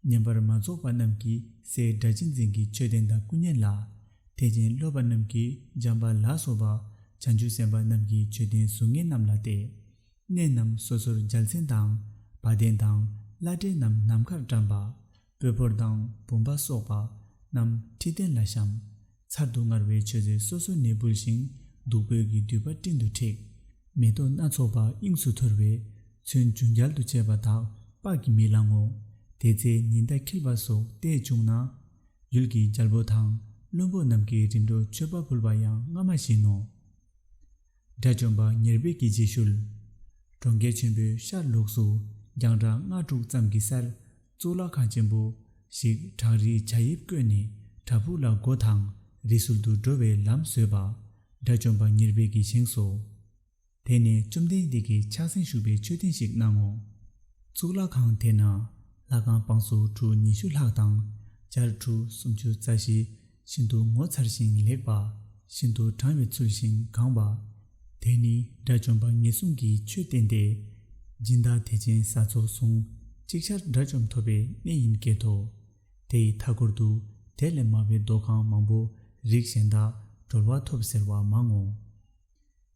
Speaker 1: བསྙེན་པར་མ་རྫོགས་པ་རྣམས་ཀྱིས་སའི་སྒྲ་གཅན་འཛིན་གྱི་མཆོད་རྟེན་དང་སྐུ་བརྙན་ལ། ཐེག་ཆེན་སློབ་པ་རྣམས་ཀྱིས་འཇམ་པ་ལ་སོགས་པ་བྱང་ཆུབ་སེམས་དཔའ་རྣམས་ཀྱི་མཆོད་རྟེན་གཟུགས་བརྙན་རྣམས་ལ་སྟེ། གནས་རྣམས་སོ་སོར་འཇལ་ཚན་དང། བ་དན་དང་བླ་བྲེ་རྣམས་ནམ་མཁར་བཀྲམ་པ། སྤོས་ཕོར་དང་བུམ་པ་སོགས་པ་རྣམས་ཁྲི་སྟན་ལ་བཤམ། ཚར་དུ་དངར་བའི་མཆོད་རྫས་སོ་སོ་ནས་འབུལ་ཞིང་བདུག་སྤོས་ཀྱི་མདུད་པ་སྤྲིན་དུ་འཁྲིགས། མེ་ཏོག་སྣ་ཚོགས་པ་དབྱིངས་སུ་འཐོར་བས་ཚོན་ཆུ་འགྱར་དུ་བཅས་པ་དག་དཔག་གིས་མི་ལང་ངོ། དེ་ཚེ་ཉི་ཟླ་འཁྱིལ་བ་སོགས་ལྟས་བྱུང་ན། ཡུལ་གྱི་རྒྱལ་པོ་དང་བློན་པོ་རྣམས་ཀྱི་རིམ་གྲོ་མཆོད་པ་ཕུལ་བ་ཡང་སྔ་མ་བཞིན་ནོ། དགྲ་བཅོམ་པ་ཉེར་སྤེལ་གྱི་རྗེས་ཤུལ། གྲོང་ཁྱེར་ཆེན་པོའི་ཤར་ལོགས་སུ་རྒྱང་གྲགས་ལྔ་དྲུག་ཙམ་གྱི་སར་གཙུག་ལག་ཁང་ཆེན་པོ་ཞིག་བྲག་རིའི་བྱ་དབྱིབས་བརྐོས་ནས་བྲག་ཕུག་ལ་སྒོ་དང་རི་སུལ་དུ་འགྲོ་བའི་ལམ་བཟོས་པ་དགྲ་བཅོམ་པ་ཉེར་སྤེལ་གྱིས་བཞེངས་སོ། དེ་ནས་བཅོམ་ལྡན་འདས་ཀྱིས་ཕྱག་མཚན་བཞུགས་པའི་མཆོད་རྟེན་ཞིག་གནང་ངོ། གཙུག་ལག་ཁང་དེ་ན་ལྷ་ཁང་བང་སོ་གྲུ་ཉི་ཤུ་ལྷག་དང་སྦྱར་གྲུ་སུམ་ཅུ་རྩ་བཞི། ཤིན་ཏུ་ངོ་མཚར་ཞིང་ལེགས་པ། ཤིན་ཏུ་དྲང་བའི་ཚུལ་བཞིན་གང་བ། དེས་ནི་དགྲ་བཅོམ་པ་ངེས་གསུམ་གྱི་ཆོས་བསྟན་ཏེ། སྦྱིན་བདག་དད་ཅན་ས་ཚོགས་ཟུང་གཅིག་ཆར་དགྲ་བཅོམ་ཐོབ་པའི་གནས་ཡིན་སྐད་དོ། དེ་ཡི་མཐའ་སྐོར་དུ་དེ་ལས་དམའ་བའི་རྡོ་ཁང་མང་པོ་རིགས་གཞན་དག་གྲོལ་བ་ཐོབ་ཟེར་བ་མང་ངོ།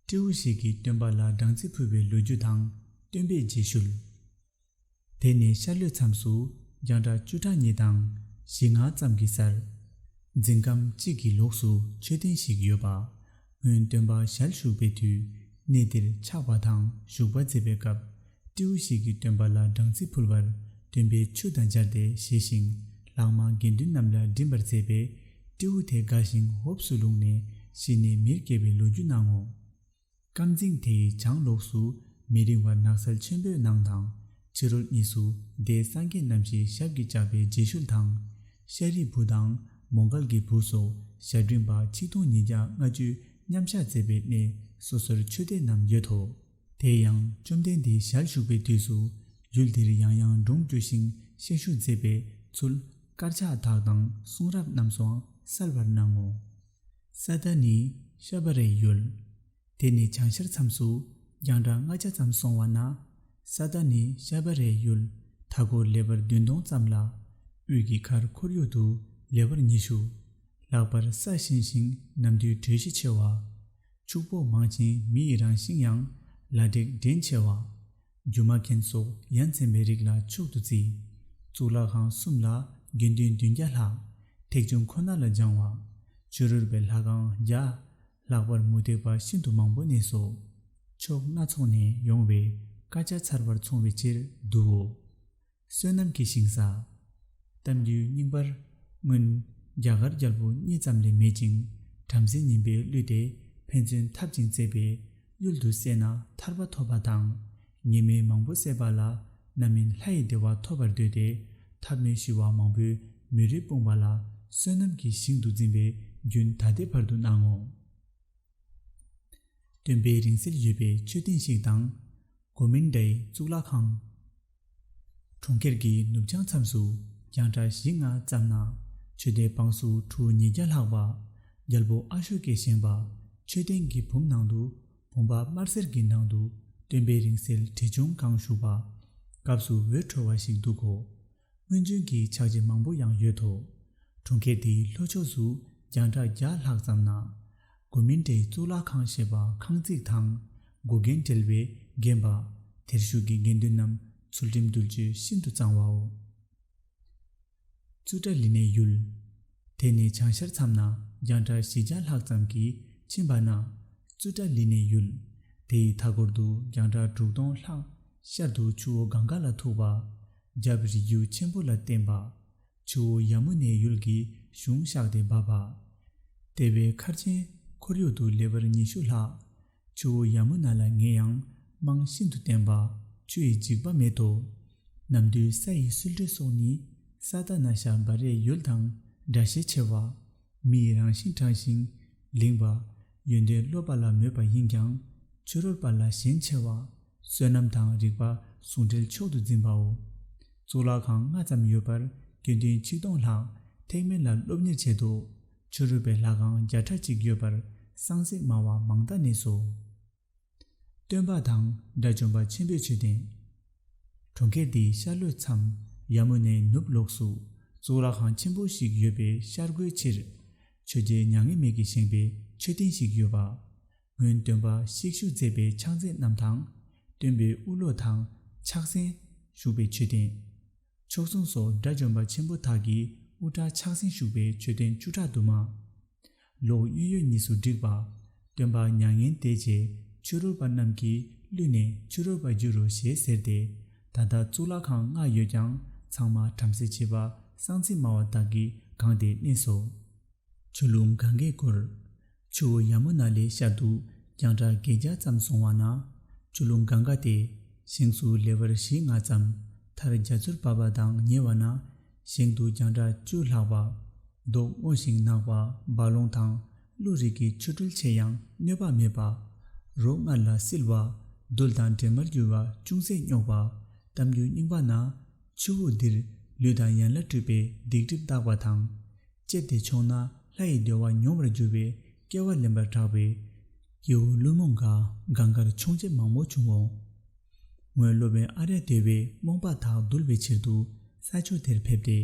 Speaker 1: སྤྲེའུ་ཞིག་གིས་སྟོན་པ་ལ་སྦྲང་རྩི་ཕུལ་བའི་ལོ་རྒྱུས་དང་སྟོན་པས་རྗེས་ཤུལ། དེ་ནས་ཤར་ལྷོའི་མཚམས་སུ་རྒྱང་གྲགས་བཅུ་ཕྲག་གཉིས་དང་བཞི་ལྔ་ཙམ་གྱི་སར། རྫིང་སྒམ་གཅིག་གི་ལོགས་སུ་མཆོད་རྟེན་ཞིག་ཡོད་པ། སྔོན་སྟོན་པ་ཞལ་བཞུགས་པའི་དུས་གནས་འདིར་ཆགས་པ་དང་བཞུགས་པ་མཛད་པའི་སྐབས་སྤྲེའུ་ཞིག་གིས་སྟོན་པ་ལ་སྦྲང་རྩི་ཕུལ་བར་སྟོན་པས་ཆུ་དང་སྦྱར་ཏེ་བཞེས་ཤིང་ལྷག་མ་དགེ་འདུན་རྣམས་ལ་སྦྱིན་པར་མཛད་པས་སྤྲེའུ་དེ་དགའ་ཞིང་ཧོབས་སུ་ལྷུང་ནས་ཤི་ནས་མིར་སྐྱེས་པའི་ལོ་རྒྱུས་སྣང་ངོ། རྐང་རྫིང་དེའི་བྱང་ལོགས་སུ་མི་རིང་བར་ནགས་ཚལ་ཆེན་པོའི་ནང་དང་ཕྱི་རོལ་གཉིས་སུ་རྡེའི་སངས་རྒྱས་རྣམ་བཞི་ཞབས་ཀྱིས་བཅགས་པའི་རྗེས་ཤུལ་དང། ཤ་རིའི་བུ་དང་མོ་མཁར་གྱི་བུ་སོགས་ཞབས་འབྲིང་པ་ཆིག་སྟོང་ཉིས་བརྒྱ་ལྔ་བཅུས་མཉམ་གཞག་མཛད་པའི་གནས་སོ་སོར་ཆོས་སྡེ་རྣམས་ཡོད་དོ། དེ་ཡང་བཅོམ་ལྡན་འདས་ཞལ་བཞུགས་པའི་དུས་སུ་ཡུལ་འདིར་ཡང་ཡང་སྒྲུང་བསྐྱོད་ཤིང་བཤད་ཞུ་མཛད་པའི་ཚུལ་དཀར་ཆག་དག་དང་གསུང་རབ་རྣམས་སུའང་གསལ་བར་སྣང་ངོ། ས་བདག་ནི་ཤ་བ་རའི་ཡུལ། དེ་ནི་བྱང་ཤར་མཚམས་སུ་རྒྱང་གྲགས་ལྔ་ཆ་ཙམ་སོང་བ་ན། ས་བདག་ནི་ཤ་བ་རའི་ཡུལ་མཐའ་སྐོར་ལེ་བར་བདུན་སྟོང་ཙམ་ལ། དབུས་ཀྱི་ཁར་ཁོར་ཡུག་ཏུ་ལེ་བར་ཉི་ཤུ། ལྷག་པར་ས་གཤིན་ཞིང་ནམ་དུས་དྲོད་གཤིས་ཆེ་བ། ཕྱུག་པོ་མང་ཞིང་མི་ཡི་རང་བཞིན་ཡང་ལ་དྲེག་འདྲེན་ཆེ་བ། སྒྱུ་མ་མཁན་སོགས་ཡ་མཚན་མའི་རིགས་ལ་མཆོག་ཏུ་བརྩི། གཙུག་ལག་ཁང་གསུམ་ལ་དགེ་འདུན་བདུན་བརྒྱ་ལྷག། ཐེག་ཆུང་ཁོ་ན་ལ་སྦྱང་བ། ཆོས་རུལ་པའི་ལྷ་ཁང་བརྒྱ། ལྷག་པར་མུ་སྟེགས་པ་ཤིན་ཏུ་མང་པོ་གནས་སོ། ཕྱོགས་སྣ་ཚོགས་ནས་ཡོང་བའི་དཀར་ཆ་ཚར་བར་འཚོང་བའི་ཕྱིར་བསྡུའོ། བསོད་ནམས་ཀྱི་ཞིང་ས། གཏམ་རྒྱུད་རྙིང་པར། སྔོན། རྒྱ་གར་རྒྱལ་པོ་གཉིས་ཙམ་ལས་མེད་ཅིང་བྲམ་ཟེ་ངན་པའི་གླུད་དེ་ཕན་ཚུན་འཐབ་ཅིང་བརྩེ་བའི་གཡུལ་དུ་བསད་ན་ཐར་པ་ཐོབ་པ་དང། ངན་སྨྲས་མང་པོ་བསད་པ་ལ་རྣམ་སྨིན་ལྷ་ཡི་བདེ་བ་ཐོབ་པར་འདོད་དེ་ཐབས་མེད་ཤི་བ་མང་པོའི་མུན་རི་སྤུངས་པ་ལ་བསོད་ནམས་ཀྱི་ཞིང་དུ་འཛིན་པའི་རྒྱུན་ད་ལྟའི་བར་དུ་སྣང་ངོ། སྟོན་པའི་རིང་བསྲེལ་ཡོད་པའི་མཆོད་རྟེན་ཞིག་དང། གོ་མིན་ཏཱའི་གཙུག་ལག་ཁང། གྲོང་ཁྱེར་གྱི་ནུབ་བྱང་མཚམས་སུ་རྒྱང་གྲགས་བཞི་ལྔ་ཙམ་ན་ཆོས་སྡེ་འབངས་སུ་གྲུ་ཉིས་བརྒྱ་ལྷག་པ། རྒྱལ་པོ་ཨ་ཤོ་ཀས་བཞེངས་པ་མཆོད་རྟེན་གྱི་བུམ་ནང་དུ་བུམ་པ་དམར་སེར་གྱི་ནང་དུ་སྟོན་པའི་རིང་བསྲེལ་དྲིལ་ཆུང་གང་བཞུགས་པ། སྐབས་སུ་འོད་འཕྲོ་བ་ཞིག་འདུག་གོ། སྔོན་བྱོན་གྱི་ཕྱག་རྗེས་མང་པོ་ཡང་ཡོད་དོ། གྲོང་ཁྱེར་འདིའི་ལྷོ་ཕྱོགས་སུ་རྒྱང་གྲགས་བརྒྱ་ལྷག་ཙམ་ན། སྒོ་མིན་ཏྲའི་གཙུག་ལག་ཁང་ཞེས་པ་ཁང་བརྩེགས་དང་སྒོ་རྒན་བྲལ་བས་བརྒྱན་པ། དེར་བཞུགས་ཀྱི་དགེ་འདུན་རྣམས་ཚུལ་ཁྲིམས་འདུལ་སྤྱོད་ཤིན་ཏུ་གཙང་བའོ། ཙུ་ཏྲ་ལི་ནའི་ཡུལ། དེ་ནས་བྱང་ཤར་མཚམས་ན་རྒྱང་གྲགས་བཞི་བརྒྱ་ལྷག་ཙམ་གྱིས་ཕྱིན་པ་ན། ཙུ་ཏྲ་ལི་ནའི་ཡུལ། དེ་ཡི་མཐའ་སྐོར་དུ་རྒྱང་གྲགས་དྲུག་སྟོང་ལྷག། ཤར་དུ་ཆུ་བོ་གངྒཱ་ལ་ཐུག་པ། རྒྱབ་རི་རྒྱུད་ཆེན་པོ་ལ་བརྟེན་པ། ཆུ་བོ་ཡ་མུ་ནའི་ཡུལ་གྱི་གཞུང་གཤགས་ཏེ་འབབ་པ། ལྟེ་བའི་མཁར་ཆེན་ཁོར་ཡུག་ཏུ་ལེ་བར་ཉི་ཤུ་ལྷག། ཆུ་བོ་ཡ་མུ་ན་ལ་ངན་ཡང་རྨང་ཤིན་ཏུ་བརྟན་པ་ཆུ་ཡི་འཇིགས་པ་མེད་དོ། ནམ་དུས་ས་ཡི་སུལ་འགྲོས་སོགས་ནི་ས་དག་ན་ཤ་འབར་རས་ཡུལ་དང་འདྲ་ཤས་ཆེ་བ། མི་ཡི་རང་བཞིན་དྲང་ཞིང་ལིང་བ། ཡོན་ཏན་སློབ་པ་ལ་མོས་པ་ཡིན་ཀྱང། ཆོས་རོལ་པ་ལ་ཞེན་ཆེ་བ། བསོད་ནམས་དང་རིག་པ་ཟུང་འབྲེལ་མཆོག་ཏུ་འཛིན་པའོ། གཙུག་ལག་ཁང་ལྔ་ཙམ་ཡོད་པར་སྐྱོན་ཐེངས་ཆིག་སྟོང་ལྷག་ཐེག་དམན་ལ་སློབ་གཉེར་བྱེད་དོ། ཆོས་རོལ་པའི་ལྷ་ཁང་བརྒྱ་ཕྲག་གཅིག་ཡོད་པར་སངས་རྒྱས་སྨྲ་བ་མང་དག་ནས་སོ། སྟོན་པ་དང་དགྲ་བཅོམ་པ་ཆེན་པོའི་ཆོས་བསྟན། གྲོང་ཁྱེར་དེའི་ཤར་ལྷོའི་མཚམས་ཡར་མོ་ནས་ནུབ་ལོགས་སུ་གཙུག་ལག་ཁང་ཆེན་པོ་ཞིག་ཡོད་པའི་ཤར་སྒོའི་ཕྱིར། ཆོས་རྒྱལ་མྱ་ངན་མེད་ཀྱིས་བཞེངས་པའི་མཆོད་རྟེན་ཞིག་ཡོད་པ། སྔོན་སྟོན་པ་གཤེགས་བཞུགས་མཛད་པའི་ཕྱག་མཚན་རྣམས་དང། སྟོན་པའི་དབུ་ལོ་དང་ཕྱག་མཚན། བཞུགས་པའི་མཆོད་རྟེན། ཕྱོགས་མཚུངས་སོགས་དགྲ་བཅོམ་པ་ཆེན་པོ་དག་གི་དབུ་སྐྲ་ཕྱག་མཚན་བཞུགས་པའི་མཆོད་རྟེན་བཅུ་ཕྲག་དུ་མ། ལོག་གཡོ་ཡོད་གཉིས་སུ་བསྒྲིགས་པ། སྟོན་པ་མྱ་ངན་འདས་རྗེས་ཆོས་རོལ་པ་རྣམས་ཀྱིས་བསླུས་ནས་ཆོས་རོལ་པར་བསྒྱུར་རོ་ཞེས་ཟེར་ཏེ། ད་ལྟ་གཙུག་ལག་ཁང་ལྔ་ཡོད་ཀྱང་ཚང་མ་བྲམ་ཟེ་བྱེས་པ་གསང་ཚིག་སྨྲ་བ་དག་གིས་གང་དེ་གནས་སོ། ཆུ་ཀླུང་གངྒཱའི་བསྐོར། ཆུ་བོ་ཡ་མུ་ན་ལའི་ཤར་དུ་རྒྱང་གྲགས་བརྒྱད་བརྒྱ་ཙམ་སོང་བ་ན། ཆུ་ཀླུང་གངྒཱ་སྟེ། བཞེངས་སུ་ལེ་བར་བཞི་ལྔ་ཙམ། མཐར་རྒྱ་མཚོར་བབས་པ་དང་ཉེ་བ་ན། ཞིང་དུ་རྒྱང་གྲགས་བཅུ་ལྷག་བར། མདོག་སྔོ་ཞིང་ནག་བ་འབའ་ལོང་དང་ཀླུ་རིགས་ཀྱི་ཆུ་སྤྲུལ་ཆེ་ཡང་གནོད་པ་མེད་པ། རོ་མངར་ལ་བསིལ་བ། རྡུལ་དང་འདྲེས་མར་འགྱུར་བ་ཅུང་ཟད་རྙོག་པ། གཏམ་རྒྱུད་རྙིང་པ་ན། ཆུ་བོ་འདིར་ལུས་དང་ཡན་ལ་སྤྲུལ་པའི་སྡིག་སྒྲིབ་བརྟག་པ་དང། ལྕེབས་ཏེ་མཆོངས་ན་ལྷ་ཡི་བདེ་བ་མྱོང་བར་འགྱུར་བའི་སྐལ་བ་ལེན་པར་གྲགས་པས། སྐྱེ་བོ་བླུན་རྨོངས་འགའ་འགའ་འགར་མཆོང་བྱེད་མང་བོ་བྱུང་ངོ། སྔོན་སློབ་དཔོན་ཨ་རལ་སྟོད་པས་རྨོངས་པ་དག་གདུལ་བའི་ཕྱིར་དུ་ས་ཕྱོགས་དེར་ཕེབས་ཏེ་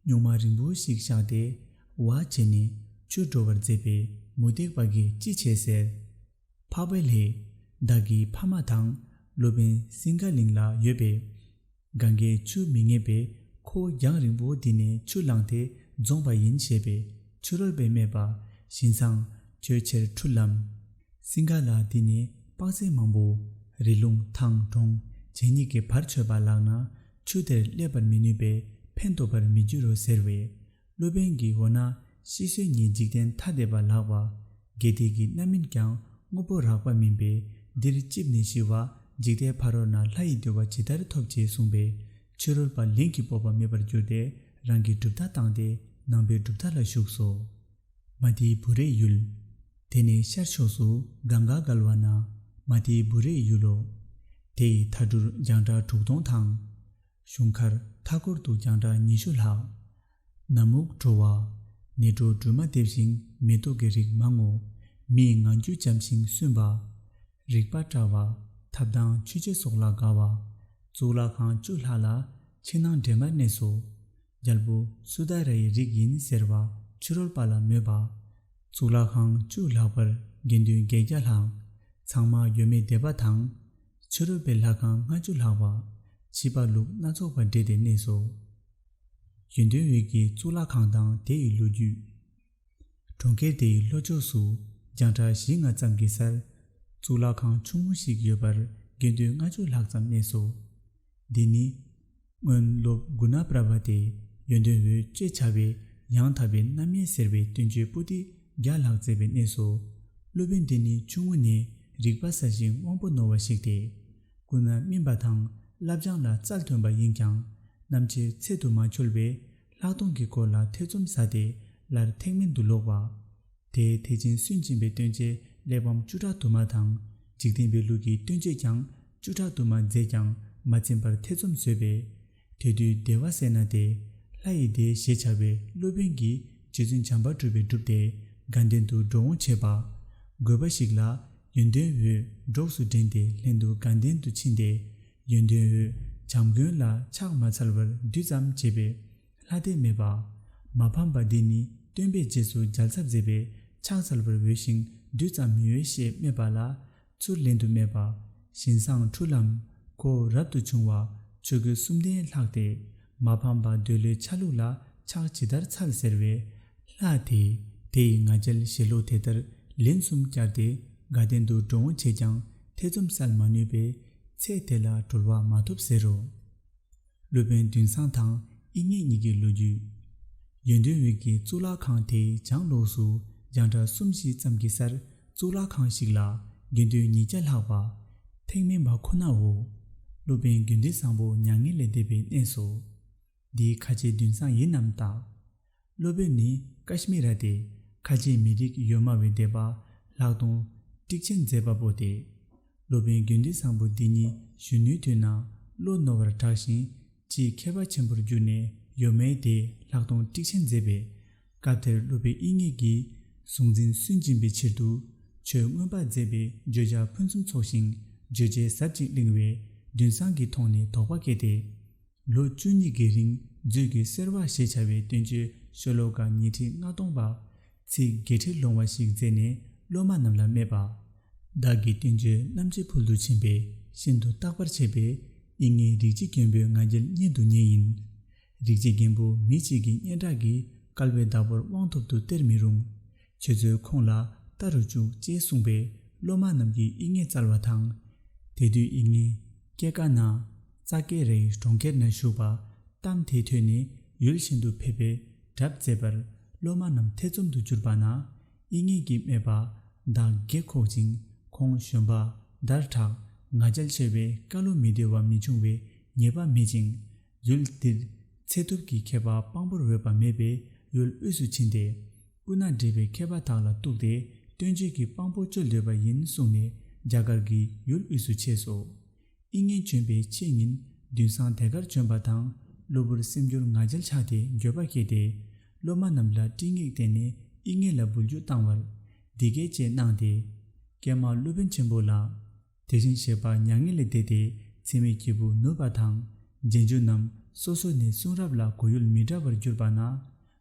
Speaker 1: སྨྱུག་མ་རིང་བོ་ཞིག་བཞག་སྟེ། བ་བྱས་ནས་ཆུར་འགྲོ་བར་མཛད་པས་མུ་སྟེགས་པ་འགས་ཅི་བྱེད་ཟེར། འཕགས་པའི་ལྷས། བདག་གིས་ཕ་མ་དང་སློབ་དཔོན་སིངྒ་གླིང་ལ་ཡོད་པས། གངྒཱའི་ཆུ་མི་ངེས་པས་ཁོ་བོ་རྒྱང་རིང་པོ་འདི་ནས་ཆུ་བླངས་ཏེ་འཛོངས་པ་ཡིན་ཞེས་པས་ཆུ་རོལ་པས་སྨྲས་པ། བཞིན་བཟང། ཁྱོད་ཕྱིར་འཁྲུལ་ལམ། སིང་ག་ལ་འདི་ནས་དཔག་ཚད་མང་པོ། རི་ལུང་ཐང་གྲོང་བྱེ་གཉིས་ཀྱི་བར་ཆོད་པ་ལགས་ན་ཆུ་དེར་སླེབས་པར་མི་ནུས་པས་ཕན་ཐོགས་པར་མི་འགྱུར་རོ་ཟེར་བས། སློབ་དཔོན་གྱིས་འོ་ན་ཤི་གསོན་གཉིས་འཇིག་རྟེན་ཐ་དད་པ་ལགས་པ། དགེ་དེས་ཀྱི་རྣམ་སྨིན་ཀྱང་དངོས་པོ་རགས་པ་མིན་པས་འདིར་བཅིབས་ནས་ཤི་བ་འཇིག་ལྟའི་ཕ་རོལ་ན་ལྷ་ཡི་འདུལ་བ་ཇི་ལྟར་འཐོབ་ཅེས་གསུངས་པས་ཕྱི་རོལ་པ་ལིང་གི་སྤོབས་པ་མེད་པར་གྱུར་ཏེ་རང་གི་གྲུབ་མཐའ་བཏང་སྟེ་ནང་པའི་གྲུབ་མཐའ་ལ་ཞུགས་སོ། མ་ཏིའི་བུ་རས་ཡུལ། དེ་ནས་ཤར་ཕྱོགས་སུ་གངྒཱ་བསྒལ་བ་ན་མ་ཏིའི་བུ་རས་ཡུལ་ལོ། དེ་ཡི་མཐའ་གྲུར་རྒྱང་གྲགས་དྲུག་སྟོང་དང། གཞུང་མཁར་མཐའ་སྐོར་དུ་རྒྱང་གྲགས་ཉི་ཤུ་ལྷག། ན་སྨུག་དྲོ་བ། ནི་སྒྲོ་སྦྲུལ་མ་འདེབས་ཤིང་མེ་ཏོག་གི་རིགས་མང་ངོ། མི་ཡི་ངང་རྒྱུད་འཇམ་ཞིང་བསུན་པ། རིག་པ་བཀྲ་བ། ཐབས་དང་ཆུ་བྱད་སོགས་ལ་དགའ་བ། གཙུག་ལག་ཁང་བཅུ་ལྷག་ལ་ཕྱི་ནང་འདྲེས་མར་གནས་སོ། རྒྱལ་པོ་སུ་དཱ་རའི་རིགས་ཡིན་ཟེར་བ་ཕྱི་རོལ་པ་ལ་མོས་པ། གཙུག་ལག་ཁང་བཅུ་ལྷག་པར་དགེ་འདུན་བརྒྱད་བརྒྱ་ལྷག། ཚང་མ་ཡོད་མེད་སྡེ་པ་དང། ཆུ་རོལ་པའི་ལྷ་ཁང་ལྔ་བཅུ་ལྷག། བྱིས་པ་ལུག་སྣ་ཚོགས་པ་འབྲེལ་ཏེ་གནས་སོ། ཡོན་ཏན་འོད་ཀྱི་གཙུག་ལག་ཁང་དང་དེ་ཡི་ལོ་རྒྱུས། གྲོང་ཁྱེར་དེ་ཡི་ལྷོ་ཕྱོགས་སུ་རྒྱང་གྲགས་བཞི་ལྔ་ཙམ་གྱི་སར། གཙུག་ལག་ཁང་ཆུང་ངུ་ཞིག་ཡོད་པར་དགེ་འདུན་ལྔ་བཅུ་ལྷག་ཙམ་གནས་སོ། འདི་ནི། སྔོན་སློབ་དགུ་ན་པྲ་བ་ཏའི་ཡོན་ཏན་འོད་ཅེས་བྱ་བའི་ཡང་དག་པའི་རྣམ་དབྱེ་ཟེར་བའི་སྟོན་བྱེད་པོ་ཏི་བརྒྱ་ལྷག་མཛད་པའི་གནས་སོ། སློབ་དཔོན་འདི་ནི་ཆུང་ངུ་ནས་རིག་པ་ཟ་ཞིང་དབང་པོ་ནོར་བ་ཞིག་སྟེ། ཀུན་ལ་སྨིན་པ་དང་བསླབ་སྦྱངས་ལ་རྩལ་ཐོན་པ་ཡིན་ཀྱང་ནམ་ཕྱེད་ཚད་དུ་མ་འཁྱོལ་བས་ལྷག་མཐོང་གི་སྐོར་ལ་ཐེ་ཚོམ་ཟ་སྟེ་སླར་ཐེག་དམན་དུ་ལོག་པ། དེའི་ཐེག་ཆེན་སུན་འབྱིན་པའི་སྟོན་བྱེད་གླེགས་བམ་བཅུ་ཕྲག་དུ་མ་དང། འཇིག་རྟེན་པའི་ལུགས་ཀྱི་སྟོན་བྱེད་ཀྱང་བཅུ་ཕྲག་དུ་མ་མཛད་ཀྱང་མ་ཚིམས་པར་ཐེ་ཚོམ་ཟོས་པས། དེ་དུས་བདེ་བ་སེར་སྣ་སྟེ། ལྷ་ཡི་སྡེ་ཞེས་བྱ་བའི་སློབ་དཔོན་གྱིས་རྗེ་བཙུན་བྱམས་པར་སྤྲུལ་པའི་སྒྲུབ་སྡེ་དགའ་ལྡན་དུ་འགྲོ་འོང་བྱེད་པ། དགོས་པ་ཞིག་ལ་ཡོན་ཏན་འོད་སྒྲོགས་སུ་འདྲེན་ཏེ་ལྷན་དུ་དགའ་ལྡན་དུ་ཕྱིན་ཏེ། ཡོན་ཏན་འོད་བྱམས་དགོན་ལ་ཕྱག་མ་ཚར་བར་བདུད་ཙམ་བྱས་པས། ལྷ་སྡེ་སྨད་པ། མ་ཕམ་པ་འདི་ནི་སྟོན་པས་རྗེས་སུ་མཇལ་ཚར་མཛད་པས་ཕྱག་འཚལ་བར་འོས་ཤིང་བདུད་ཙམ་མི་འོས་ཞེས་སྨྲས་པ་ལ། ཚུར་ལན་དུ་སྨྲས་པ། བཞིན་བཟང་འཁྲུལ་ལམ། ཁོ་བོ་རབ་ཏུ་བྱུང་བ། ཆོས་སྐུ་གསུམ་ལྡན་ལྷག་སྟེ། མ་ཕམ་པ་འདོད་བློའི་ཆ་ལུགས་ལ་ཕྱག་ཇི་ལྟར་འཚལ་ཟེར་བས། ལྷ་དེས་དེ་ཡི་ང་རྒྱལ་བཞེས་ལུགས་དེ་ལྟར་ལན་གསུམ་བསྐྱར་ཏེ་དགའ་ལྡན་དུ་འགྲོ་འོང་བྱས་ཀྱང་ཐེ་ཚོམ་བསལ་མ་ནུས་པས། ཚེ་དེ་ལ་གྲོལ་བ་མ་ཐོབ་ཟེར་རོ། སློབ་དཔོན་བདུན་བཟང་དང་དབྱིག་གཉེན་གཉིས་ཀྱི་ལོ་རྒྱུས། ཡོན་ཏུན་དབྱིག་གི་གཙུག་ལག་ཁང་དེ་བྱང་ལོགས་སུ་རྒྱང་གྲགས་གསུམ་བཞི་ཙམ་གྱི་སར་གཙུག་ལག་ཁང་ཞིག་ལ་དགེ་འདུན་ཉིས་བརྒྱ་ལྷག་པ། ཐེག་དམན་པ་ཁོ་ནའོ། སློབ་དཔོན་དགེ་འདུན་བཟང་པོ་མྱ་ངན་ལས་འདས་པའི་གནས་སོ། འདིའི་ཁ་ཆེ་བདུན་བཟང་ཡིན་ནམ་བརྟག། སློབ་དཔོན་ནི་ཀཱཤྨི་ར་སྟེ་ཁ་ཆེའི་མི་རིགས་ཡོད་སྨྲ་བའི་སྡེ་པ་ལྷག་དོན། ཀྲིག་ཆེན་མཛད་པ་པོ་སྟེ། སློབ་དཔོན་དགེ་འདུན་བཟང་པོ་འདི་ཉིད་གཞོན་ནུའི་དུས་ན་བློ་རྣོ་བར་གྲགས་ཤིང་སྤྱིའི་མཁས་པ་ཆེན་པོར་གྱུར་ནས་ཡོད་སྨྲའི་སྡེ་ལྷག་དོན་ཀྲིག་ཆེན་མཛད་པས། སྐབས་དེར་སློབ་པའི་དབྱིག་གཉེན་གྱིས་གཟུང་འཛིན་སུན་འབྱིན་པའི་ཕྱིར་དུ། ཆོས་མངོན་པར་མཛད་པའི་བརྗོད་བྱ་ཕུན་སུམ་ཚོགས་ཤིང་བརྗོད་བྱའི་ཟབ་ཅིང་བརླིང་བས་འདུན་བཟང་གིས་མཐོང་ནས་དོགས་པ་སྐྱེས་ཏེ། ལོ་བཅུ་གཉིས་ཀྱི་རིང་མཛོད་ཀྱི་གསེར་བ་ཞེས་བྱ་བའི་སྟོན་ཆོས་ཤོ་ལོ་ཀ་ཉིས་ཁྲི་ལྔ་སྟོང་པ། ཚིག་བརྒྱད་ཁྲི་ལོང་བ་ཞིག་མཛད་ནས་སློབ་མ་རྣམས་ལ་སྨྲས་པ། བདག་གིས་སྟོན་ཆོས་རྣམ་འབྱེད་ཕུལ་དུ་ཕྱིན་པས་ཤིན་ཏུ་བརྟག་པར་བྱས་པས་དབྱིག་ངའི་རིག་བྱེད་མཁན་པོའི་ང་རྒྱལ་རྙེད་དུ་ཉེ་ཡིན། རིག་བྱེད་མཁན་པོ་མི་གཅིག་གི་སྙན་གྲགས་ཀྱིས་སྐལ་བའི་བདག་པོར་དབང་ཐོབ་ཏུ་སྟེར་མི་རུང། ཁྱེད་ཚོས་ཁོང་ལ་བལྟ་རུ་བཅུག་ཅེས་གསུངས་པས་སློབ་མ་རྣམས་ཀྱིས་དབྱིག་གཉེན་བཙལ་བ་དང། དེ་དུས་དབྱིག་གཉེན། ཀྱེ་ཀ་ན། ཙ་ཀེ་རེའི་གྲོང་ཁྱེར་ན་བཞུགས་པ། གཏམ་དེ་ཐོས་ནས་ཡུལ་གཞན་དུ་ཕེབས་པའི་གྲབས་མཛད་པར། སློབ་མ་རྣམས་ཐེ་ཚོམ་དུ་གྱུར་པ་ན། དབྱིག་གཉེན་གྱིས་སྨྲས་པ། བདག་བགེགས་ཁོག་ཅིང་ཁོང་གཞོན་པ། འདར་དྲག། ང་རྒྱལ་ཆེ་བས་བཀའ་བློ་མི་བདེ་བ་མི་འབྱུང་བའི་ངེས་པ་མེད་ཅིང། ཡུལ་འདིར། ཚེ་ཐུབ་ཀྱི་མཁས་པ་དཔང་པོར་འོས་པ་མེད་པས་ཡུལ་དབུས་སུ་ཕྱིན་ཏེ། སྐུ་ན་འདྲེས་པའི་མཁས་པ་དག་ལ་གཏུགས་ཏེ་སྟོན་བྱེད་ཀྱི་དཔང་པོ་བཅོལ་འདོད་པ་ཡིན་གསུངས་ནས་རྒྱ་གར་གྱི་ཡུལ་དབུས་སུ་ཆས་སོ། དབྱིག་གཉེན་བྱོན་པའི་ཕྱེད་ཉིན་བདུན་སྲང་དེ་གར་བྱོན་པ་དང་གློ་བུར་སེམས་འགྱུར་ང་རྒྱལ་ཆགས་ཏེ་འགྱོད་པ་སྐྱེས་ཏེ། སློབ་མ་རྣམས་ལ་སྤྲིང་ངེག་བསྟན་ནས་དབྱིག་གཉེན་ལ་འབུལ་རྒྱུ་བཏང་བར། འདི་སྐད་ཅེས་གནང་སྟེ། ཀྱེ་མ་སློབ་དཔོན་ཆེན་པོ་ལགས། དེ་བཞིན་གཤེགས་པ་མྱ་ངན་ལས་འདས་ཏེ་འཚེ་མེད་སྐྱེས་བུ་ནོར་བ་དང། རྗེས་འཇུག་རྣམས་སོ་སོ་ནས་གསུང་རབ་ལ་གོ་ཡུལ་མི་འདྲ་བར་གྱུར་པ་ན།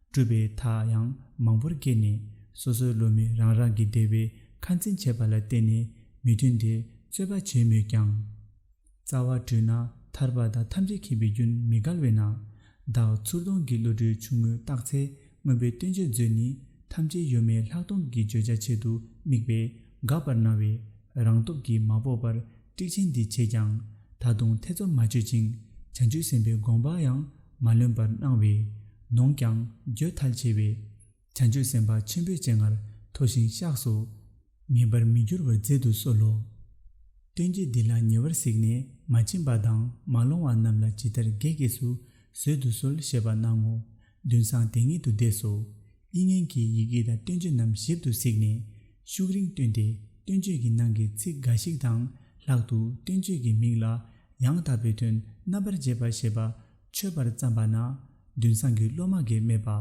Speaker 1: སྤྲུལ་པའི་མཐའ་ཡང་མང་པོར་སྐྱེས་ནས་སོ་སོའི་བློ་མིག་རང་རང་གི་བདེ་བའི་ཁ་འཛིན་བྱེད་པ་ལ་བརྟེན་ནས་མི་མཐུན་དེ་རྩོད་པ་བྱེད་མོད་ཀྱང། རྩ་བ་དྲུད་ན་ཐར་པ་དང་ཐམས་ཅད་མཁྱེན་པའི་རྒྱུན་མི་འགལ་བས་ན། བདག་ཚུར་སྟོང་གི་བློ་གྲོས་ཆུང་ངུས་བརྟགས་ཚེ་མངོན་པའི་སྟོན་བྱེད་མཛོད་ནི་ཐམས་ཅད་གཡོ་མེད་ལྷག་མཐོང་གི་བརྗོད་བྱ་ཆེད་དུ་དམིགས་པས་འགག་པར་སྣང་བས་རང་སྟོབས་ཀྱིས་མ་དཔོག་པར་དཀྲིག་ཆེན་འདི་བྱས་ཀྱང་ད་དུང་ཐེ་ཚོམ་མ་བཅོས་ཅིང་བྱང་ཆུབ་སེམས་དཔའི་དགོངས་པ་ཡང་མ་ལོན་པར་སྣང་བས་ནོངས་ཀྱང་འགྱོད་ཐལ་ཆེ་བས། བྱང་ཆུབ་སེམས་དཔའ་ཆེན་པོའི་སྤྱན་སྔར་མཐོ་ཞིང་བཤགས་སོ། ངེས་པར་མི་འགྱུར་བར་མཛད་དུ་གསོལ་ལོ། སྟོན་གྱིས་འདི་ལ་ཉེ་བར་གཟིགས་ནས་མ་བྱིན་པ་དང་མ་ལོང་བ་རྣམས་ལ་ཇི་ལྟར་དགེ་རྒས་སུ་བཟོད་དུ་གསོལ་ཞེས་པ་གནང་ངོ། མདུན་བསང་དེ་ཉིད་དུ་བཟླས་སོ། ཨི་ངན་གྱིས་ཡི་གེ་དང་སྟོན་བཅོས་རྣམས་ཞིབ་ཏུ་གཟིགས་ནས། ཤུགས་རིང་བཏོན་ཏེ་སྟོན་བཅོས་ཀྱི་ནང་གི་ཚིག་འགའ་ཞིག་དང་ལྷག་ཏུ་སྟོན་བཅོས་ཀྱི་མིང་ལ། ཡང་དག་པའི་དོན་རྣམ་པར་འབྱེད་པ་ཞེས་པ། འཆོས་པར་བརྩམས་པ་ན། མདུན་བསང་གི་སློབ་མ་འགས་སྨྲས་པ།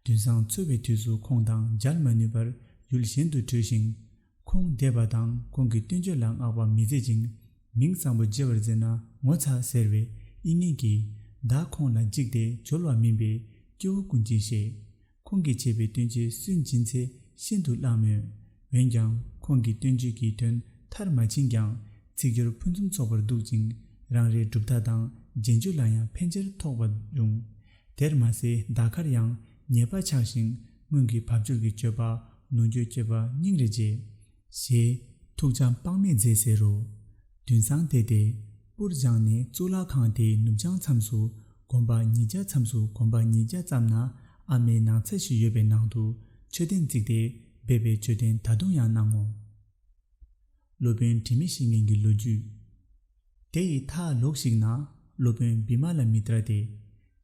Speaker 1: མདུན་བསང་འཚོལ་བའི་དུས་སུ་ཁོང་དང་སྦྱར་མ་ནུས་པར་ཡུལ་གཞན་དུ་བྲོས་ཤིང། ཁུངས་འདེད་པ་དང་ཁོང་གི་སྟོན་བརྗོད་ལ་བསྔགས་པ་མི་མཛད་ཅིང་མིང་བཟང་པོ་བརྗེ་བར་མཛད་ན་ངོ་ཚ་ཟེར་བའི་ཨི་ངན་གྱིས་བདག་ཁོང་ལ་འཇིགས་ཏེ་འབྱོར་བ་མིན་པའི་སྐྱེ་བོ་ཀུན་གྱིས་ཤེས། ཁོང་གིས་བྱས་པའི་སྟོན་བརྗོད་སུན་འབྱིན་ཚད་ཤིན་ཏུ་བརླག་མོད། འོན་ཀྱང་ཁོང་གི་སྟོན་བརྗོད་ཀྱི་དོན་མཐར་མ་ཕྱིན་ཀྱང་ཚིག་སྦྱོར་ཕུན་སུམ་ཚོགས་པར་འདུག་ཅིང་རང་རེའི་གྲུབ་མཐའ་དང་རྗེས་འཇུག་ལ་ཡང་ཕན་ཆེར་ཐོགས་པ་འབྱུང། དེར་མ་ཟད་འདའ་ཁར་ཡང་ཉེས་པ་ཆགས་ཤིང་སྔོན་གྱི་བབ་ཅོལ་གྱི་སྤྱོད་པ་ནོར་འགྱོད་སྐྱེས་པ་སྙིང་རེ་རྗེ། ཞེས། ཐུགས་འཇམ་དཔག་མེད་མཛད་ཟེར་རོ། དུན་སང་བལྟས་ཏེ། པུར་སྦྱངས་ནས་གཙུག་ལག་ཁང་དེའི་ནུབ་བྱང་མཚམས་སུ་གོམ་པ་ཉིས་བརྒྱ་མཚམས་སུ་གོམ་པ་ཉིས་བརྒྱ་ཙམ་ན་ཨ་མའི་ནང་ཚལ་ཞིག་ཡོད་པའི་ནང་དུ་མཆོད་རྟེན་བརྩིགས་ཏེ་སྦས་པའི་མཆོད་རྟེན་ད་དུང་ཡང་སྣང་ངོ། སློབ་དཔོན་དྲི་མེད་བཤེས་གཉེན་གྱི་ལོ་རྒྱུས། དེ་ཡི་མཐའ་ལོགས་ཤིག་ན་སློབ་དཔོན་བི་མ་ལ་མི་ཏྲ་སྟེ།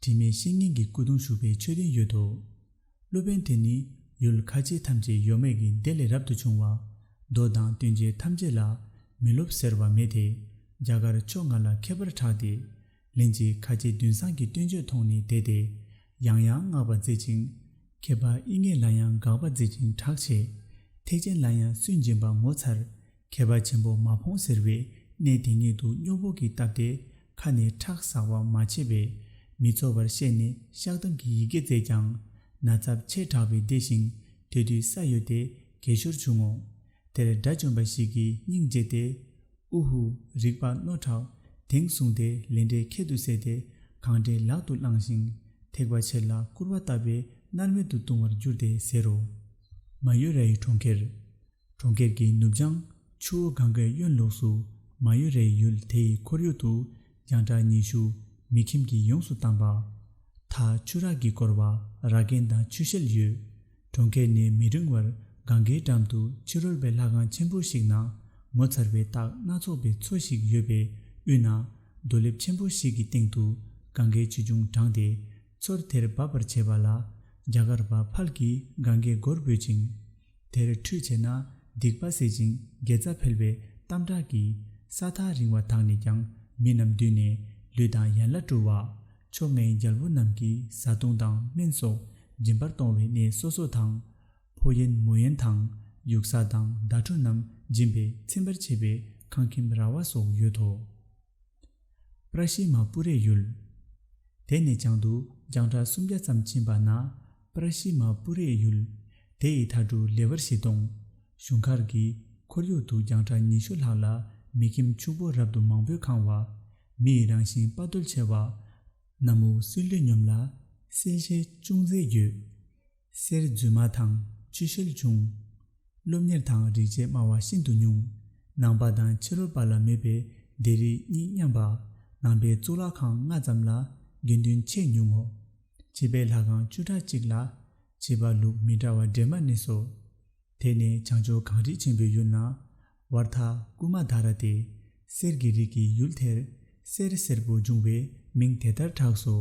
Speaker 1: དྲི་མེད་བཤེས་གཉེན་གྱི་སྐུ་གདུང་བཞུགས་པའི་མཆོད་རྟེན་ཡོད་དོ། སློབ་དཔོན་དེ་ནི་ཡུལ་ཁ་ཆེ་ཐམས་ཅད་ཡོ་མེད་ཀྱི་སྡེ་ལས་རབ་ཏུ་བྱུང་བ། མདོ་དང་སྟོན་བྱེད་ཐམས་ཅད་ལ་མི་སློབ་ཟེར་བ་མེད་དེ། རྒྱ་གར་ཕྱོགས་ང་ལ་མཁས་པར་གྲགས་ཏེ། ལན་ཅིག་ཁ་ཆེ་བདུན་བཟང་གི་སྟོན་མཆོད་མཐོང་ནས་དད་དེ། ཡང་ཡང་བསྔགས་པ་མཛད་ཅིང། མཁས་པ་དབྱིག་གཉེན་ལ་ཡང་དགག་པ་མཛད་ཅིང་གྲགས་ཆེ། ཐེག་ཆེན་ལ་ཡང་སུན་འབྱིན་པ་ངོ་མཚར། མཁས་པ་ཆེན་པོ་མ་ཕོངས་ཟེར་བས་གནས་དེ་ཉིད་དུ་སྨྱོ་འབོག་གིས་བཏབ་སྟེ་ཁ་ནས་ཁྲག་ཟག་པ་མ་བྱས་པས་མི་ཚོར་བར་བཤད་ནས་བཤགས་གཏམ་གྱི་ཡི་གེ་བསྩལ་ཀྱང། ན་ཚབས་ཆེ་དྲགས་པས་བདེ་ཞིང་དེ་དུས་ས་གཡོས་ཏེ་གས་ཞོར་བྱུང་ངོ། དེར་དགྲ་བཅོམ་པ་ཞིག་གིས་སྙིང་རྗེ་སྟེ། ཨུ་ཧུ། རིགས་པ་རྣོ་དྲགས། དེང་བཟུང་དེ་ལས་འདྲེ་ཁྱད་དུ་བསད་དེ་གང་དྲན་ལག་ཏུ་བླངས་ཤིང་ཐེག་པ་ཆེར་ལ་སྐུར་བ་བཏབ་པས་མནར་མེད་དུ་ལྟུང་བར་འགྱུར་ཏེ་ཟེར་རོ། མ་ཡོས་ར་ཡི་གྲོང་ཁྱེར། གྲོང་ཁྱེར་གྱི་ནུབ་བྱང་ཆུ་བོ་གངྒཱའི་གཡོན་ལུགས་སུ་མ་ཡུ་རའི་ཡུལ་དེའི་ཁོར་ཡུག་ཏུ་རྒྱང་གྲགས་ཉི་ཤུ་མི་ཁྱིམ་གྱིས་ཡོངས་སུ་བཏང་པ། མཐའ་ཆུ་རགས་ཀྱིས་བསྐོར་བ་ར་གན་དང་ཆུ་ཤེལ་ཡོད། གྲོང་ཁྱེར་ནི་མི་རིང་བར་གངྒཱའི་འགྲམ་དུ་ཕྱི་རོལ་པའི་ལྷ་ཁང་ཆེན་པོ་ཞིག་ན་ངོ་མཚར་བའི་རྟགས་སྣ་ཚོགས་པའི་མཚོ་ཞིག་ཡོད་པའི་དབུས་ན་རྡོ་ལེབ་ཆེན་པོ་ཞིག་གི་སྟེང་དུ་གངྒཱའི་ཆུ་ཆུང་དྲངས་ཏེ་མཚོར་དེར་འབབ་པར་བྱེད་པ་ལ་རྒྱ་གར་བ་ཕལ་གྱིས་གངྒཱའི་མགོར་འབོད་ཅིང། དེར་ཁྲུས་བྱས་ན་སྡིག་པ་སེལ་ཅིང་དགེ་རྩ་འཕེལ་བའི་གཏམ་བསྒྲགས་ཀྱིས་ས་ཐག་རིང་བ་དག་ནས་ཀྱང་མི་རྣམས་བསྡུས་ནས་ལུས་དང་ཡན་ལག་བཀྲུ་བ། མཆོག་དམན་རྒྱལ་པོ་རྣམས་ཀྱིས་བཟའ་བཏུང་དང་སྨན་སོགས་སྦྱིན་པར་གཏོང་བའི་གནས་སོ་སོ་དང། ཕོ་ཡན་མོ་ཡན་དང་ཡུགས་ས་དང་མདའ་གྲུ་རྣམས་སྦྱིན་པས་ཚིམ་པར་བྱེད་པའི་ཁང་ཁྱིམ་ར་བ་སོགས་ཡོད་དོ། པྲ་ཤིལ་མ་སྤུ་རེས་ཡུལ། དེ་ནས་བྱང་དུ་རྒྱང་གྲགས་སུམ་བརྒྱ་ཙམ་ཕྱིན་པ་ན་པྲ་ཤིལ་མ་སྤུ་རེས་ཡུལ། དེ་ཡི་མཐའ་དྲུག་ལེ་བར་བཞི་སྟོང། གཞུང་མཁར་གྱི་ཁོར་ཡུག་ཏུ་རྒྱང་གྲགས་ཉི་ཤུ་ལྷག་ལ་མི་ཁྱིམ་ཕྱུག་པོ་རབ་ཏུ་མང་པོས་ཁང་བ། མི་ཡི་རང་བཞིན་དཔའ་རྟུལ་ཆེ་བ། ནམ་དབུགས་བསིལ་དུས་སྙོམས་ལ། བསིལ་ཆའི་ཅུང་ཟད་རྒྱུ། གསེར་རྫུན་མ་དང་ཕྱི་ཤེལ་ཆུང། སློབ་གཉེར་དང་རིག་བྱེད་སྨྲ་བ་ཤིན་ཏུ་ཉུང། ནང་པ་དང་ཕྱི་རོལ་པ་ལ་མོས་པའི་སྡེ་རིགས་གཉིས་མཉམ་པ། ནང་པའི་གཙུག་ལག་ཁང་ལྔ་ཙམ་ལ་དགེ་འདུན་ཆེས་ཉུང་ངོ། ཕྱི་པའི་ལྷ་ཁང་བཅུ་ཕྲག་གཅིག་ལ། བྱེད་པ་ལུགས་མི་འདྲ་བ་འདྲེས་མ་གནས་སོ། དེ་ནི་བྱང་ཕྱོགས་གངས་རི་ཆེན་པོའི་ཡུལ་ན། བར་ཐག་ཀུ་མ་དྷ་ར་སྟེ་གསེར་གྱི་རིགས་ཀྱི་ཡུལ་དེར་གསེར་སེར་པོ་འབྱུང་བས་མིང་དེ་ལྟར་གྲགས་སོ།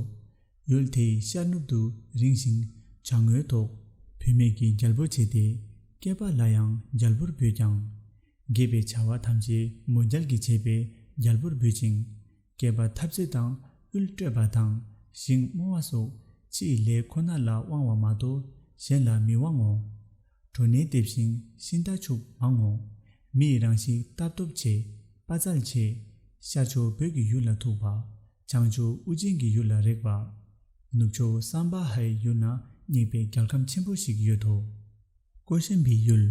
Speaker 1: ཡུལ་དེའི་ཤར་ནུབ་ཏུ་རིང་ཞིང་བྱ་དངོས་ཐོག་བུད་མེད་ཀྱི་རྒྱལ་པོ་བྱས་ཏེ་སྐྱེས་པ་ལ་ཡང་རྒྱལ་པོར་འབོད་ཀྱང། དགེ་བའི་བྱ་བ་ཐམས་ཅད་མོ་རྒྱལ་གྱིས་བྱས་པས་རྒྱལ་པོར་འབོད་ཅིང། སྐྱེས་པ་ཐབས་ཟད་དང་དབུལ་སྤྲོད་པ་དང་ཞིང་རྨོ་བ་སོགས་ཕྱིའི་ལས་ཁོ་ན་ལ་དབང་བ་མ་གཏོགས་གཞན་ལ་མི་དབང་ངོ། གྲུ་ནི་ལྟེབས་ཤིང་ཤིང་རྟ་ཕྱུགས་མང་ངོ། མི་ཡི་རང་གཤིས་ལྟ་སྟོབས་ཆེ། དཔའ་རྩལ་ཆེ། ཤར་ཕྱོགས་བོད་ཀྱི་ཡུལ་ལ་ཐུག་པ། བྱང་ཕྱོགས་དབུ་ཅན་གྱི་ཡུལ་ལ་རེག་པ། ནུབ་ཕྱོགས་སམ་བཱ་ཧའི་ཡུལ་ན་སྙེག་པའི་རྒྱལ་ཁམས་ཆེན་པོ་ཞིག་ཡོད་དོ། ཀོ་ཤན་པའི་ཡུལ།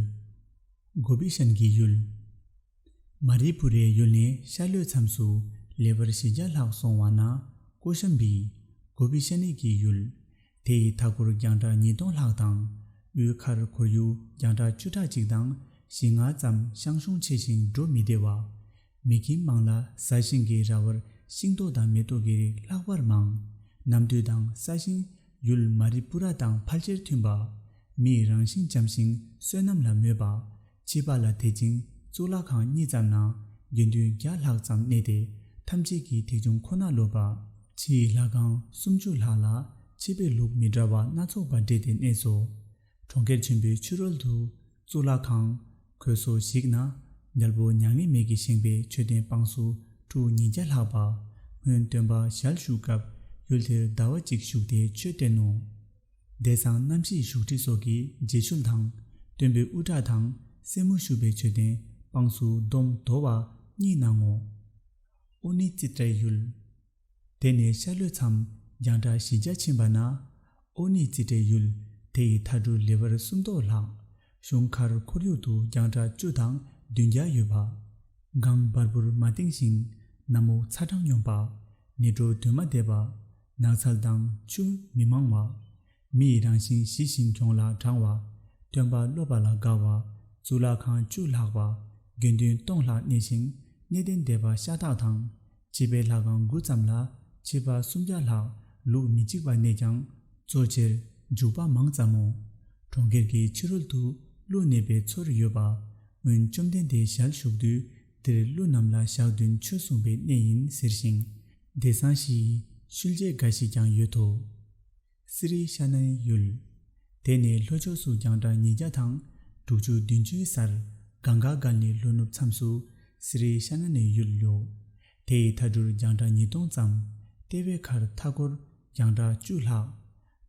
Speaker 1: གོ་བི་ཤན་གྱི་ཡུལ། མ་རི་བུ་རའི་ཡུལ་ནས་ཤར་ལྷོའི་མཚམས་སུ་ལེ་བར་བཞི་བརྒྱ་ལྷག་སོང་བ་ན་ཀོ་ཤན་པི། གོ་བི་ཤན་ནེ་ཀྱི་ཡུལ། དེ་ཡི་མཐའ་འཁོར་རྒྱང་གྲགས་ཉིས་སྟོང་ལྷག་དང། དབུས་མཁར་འཁོར་ཡུག་རྒྱང་གྲགས་བཅུ་ཕྲག་གཅིག་དང་བཞི་ལྔ་ཙམ་ཤང་ཤུང་ཆེ་ཞིང་འགྲོ་མི་བདེ་བ། མི་ཁྱིམ་མང་ལ་ས་ཞིང་གི་ར་བར་ཤིང་ཏོག་དང་མེ་ཏོག་གི་རིགས་ལྷག་པར་མང། ནམ་དུས་དང་ས་ཞིང། ཡུལ་མ་རི་སྤུ་ར་དང་ཕལ་ཆེར་མཐུན་པ། མིའི་རང་བཞིན་འཇམ་ཞིང་བསོད་ནམས་ལ་མོས་པ། བྱིས་པ་ལ་དད་ཅིང་གཙུག་ལག་ཁང་གཉིས་ཙམ་ན་དགེ་འདུན་བརྒྱ་ལྷག་ཙམ་གནས་ཏེ་ཐམས་ཅད་ཀྱིས་ཐེག་ཆུང་ཁོ་ན་ལོབས་པ། ཕྱི་ཡི་ལྷ་ཁང་སུམ་ཅུ་ལྷག་ལ་ཕྱི་པའི་ལུགས་མི་འདྲ་བ་སྣ་ཚོགས་པ་སྦྲེལ་ཏེ་གནས་སོ། གྲོང་ཁྱེར་ཆེན་པོའི་ཕྱི་རོལ་དུ་གཙུག་ལག་ཁང། གོས་སོ་ཞིག་ན་རྒྱལ་པོ་མྱ་ངན་མེད་ཀྱིས་བཞེངས་པའི་མཆོད་རྟེན་དཔངས་སུ་གྲུ་ཉིས་བརྒྱ་ལྷག་པ། སྔོན་སྟོན་པ་ཞལ་བཞུགས་སྐབས་ཡུལ་དེར་ཟླ་བ་གཅིག་བཞུགས་ཏེ་ཆོས་བསྟན་ནོ། བདེ་གསང་རྣམ་བཞིའི་བཞུགས་ཁྲི་སོགས་ཀྱི་རྗེས་ཆུང་དང། སྟོན་པའི་དབུ་སྐྲ་དང་སེན་མོ་བཞུགས་པའི་མཆོད་རྟེན་དཔངས་སུ་སྡོམ་མདོ་བ་གཉིས་སྣང་ངོ། ཨོ་ནི་ཙི་ཏྲའི་ཡུལ། དེ་ནས་ཤར་ལྷོའི་མཚམས་རྒྱང་གྲགས་བཞི་བརྒྱ་ཕྱིན་པ་ན། ཨོ་ནི་ཙི་ཏྲའི་ཡུལ་དེ་ཡི་མཐའ་གྲུ་ལེ་བར་སུམ་མདོ་ལྷག། གཞུང་མཁར་ཁོར་ཡུག་ཏུ་རྒྱང་གྲགས་བཅུ་དང་བདུན་བརྒྱ་ཡོད་པ། སྒང་འབར་བུར་མ་བཏིང་ཞིང་ནམ་འུག་ཚ་གྲང་སྙོམས་པ། ནི་གྲོ་དུས་མ་འདས་པ། ནགས་ཚལ་དང་ཆུ་མི་མང་བ། མི་ཡི་རང་བཞིན་ཞི་ཞིང་གྱོང་ལ་དྲང་བ། སྟོན་པ་སློབ་པ་ལ་དགའ་བ། གཙུག་ལག་ཁང་བཅུ་ལྷག་པ། དགེ་འདུན་སྟོང་ལྷག་གནས་ཤིང་གནས་བརྟན་སྡེ་པ་ཤ་སྟག་དང། སྤྱི་པའི་ལྷ་ཁང་དགུ་ཙམ་ལ་ཕྱི་པ་སུམ་བརྒྱ་ལྷག་ལུགས་མི་གཅིག་པ་གནས་ཀྱང། གཙོ་ཆེར་འཇུག་པ་མང་ཙམ་མོ། གྲོང་ཁྱེར་གྱི་ཕྱི་རོལ་དུ་ཀླུ་གནས་པའི་ཚུལ་ཡོད་པ། སྔོན་བཅོམ་ལྡན་འདས་ཞལ་བཞུགས་དུས་འདིར་ཀླུ་རྣམས་ལ་ཞག་བདུན་ཆོས་གསུངས་པའི་གནས་ཡིན་ཟེར་ཞིང། འདི་བཟང་ཞིག། ཤུལ་རྗེས་འགའ་ཞིག་ཀྱང་ཡོད་དོ། གསེར་རིའི་ཤ་སྣའི་ཡུལ། དེ་ནས་ལྷོ་ཕྱོགས་སུ་རྒྱང་གྲགས་ཉིས་བརྒྱ་དང། དྲུག་ཅུ་བདུན་བཅུའི་སར། གངས་དཀར་སྒར་ནས་ལྷོ་ནུབ་མཚམས་སུ། གསེར་རིའི་ཤ་སྣ་ནས་ཡུལ་ལོ། དེ་ཡི་མཐའ་གྲུར་རྒྱང་གྲགས་ཉིས་སྟོང་ཙམ། ལྟེ་བའི་ཁར་མཐའ་སྐོར། རྒྱང་གྲགས་བཅུ་ལྷག།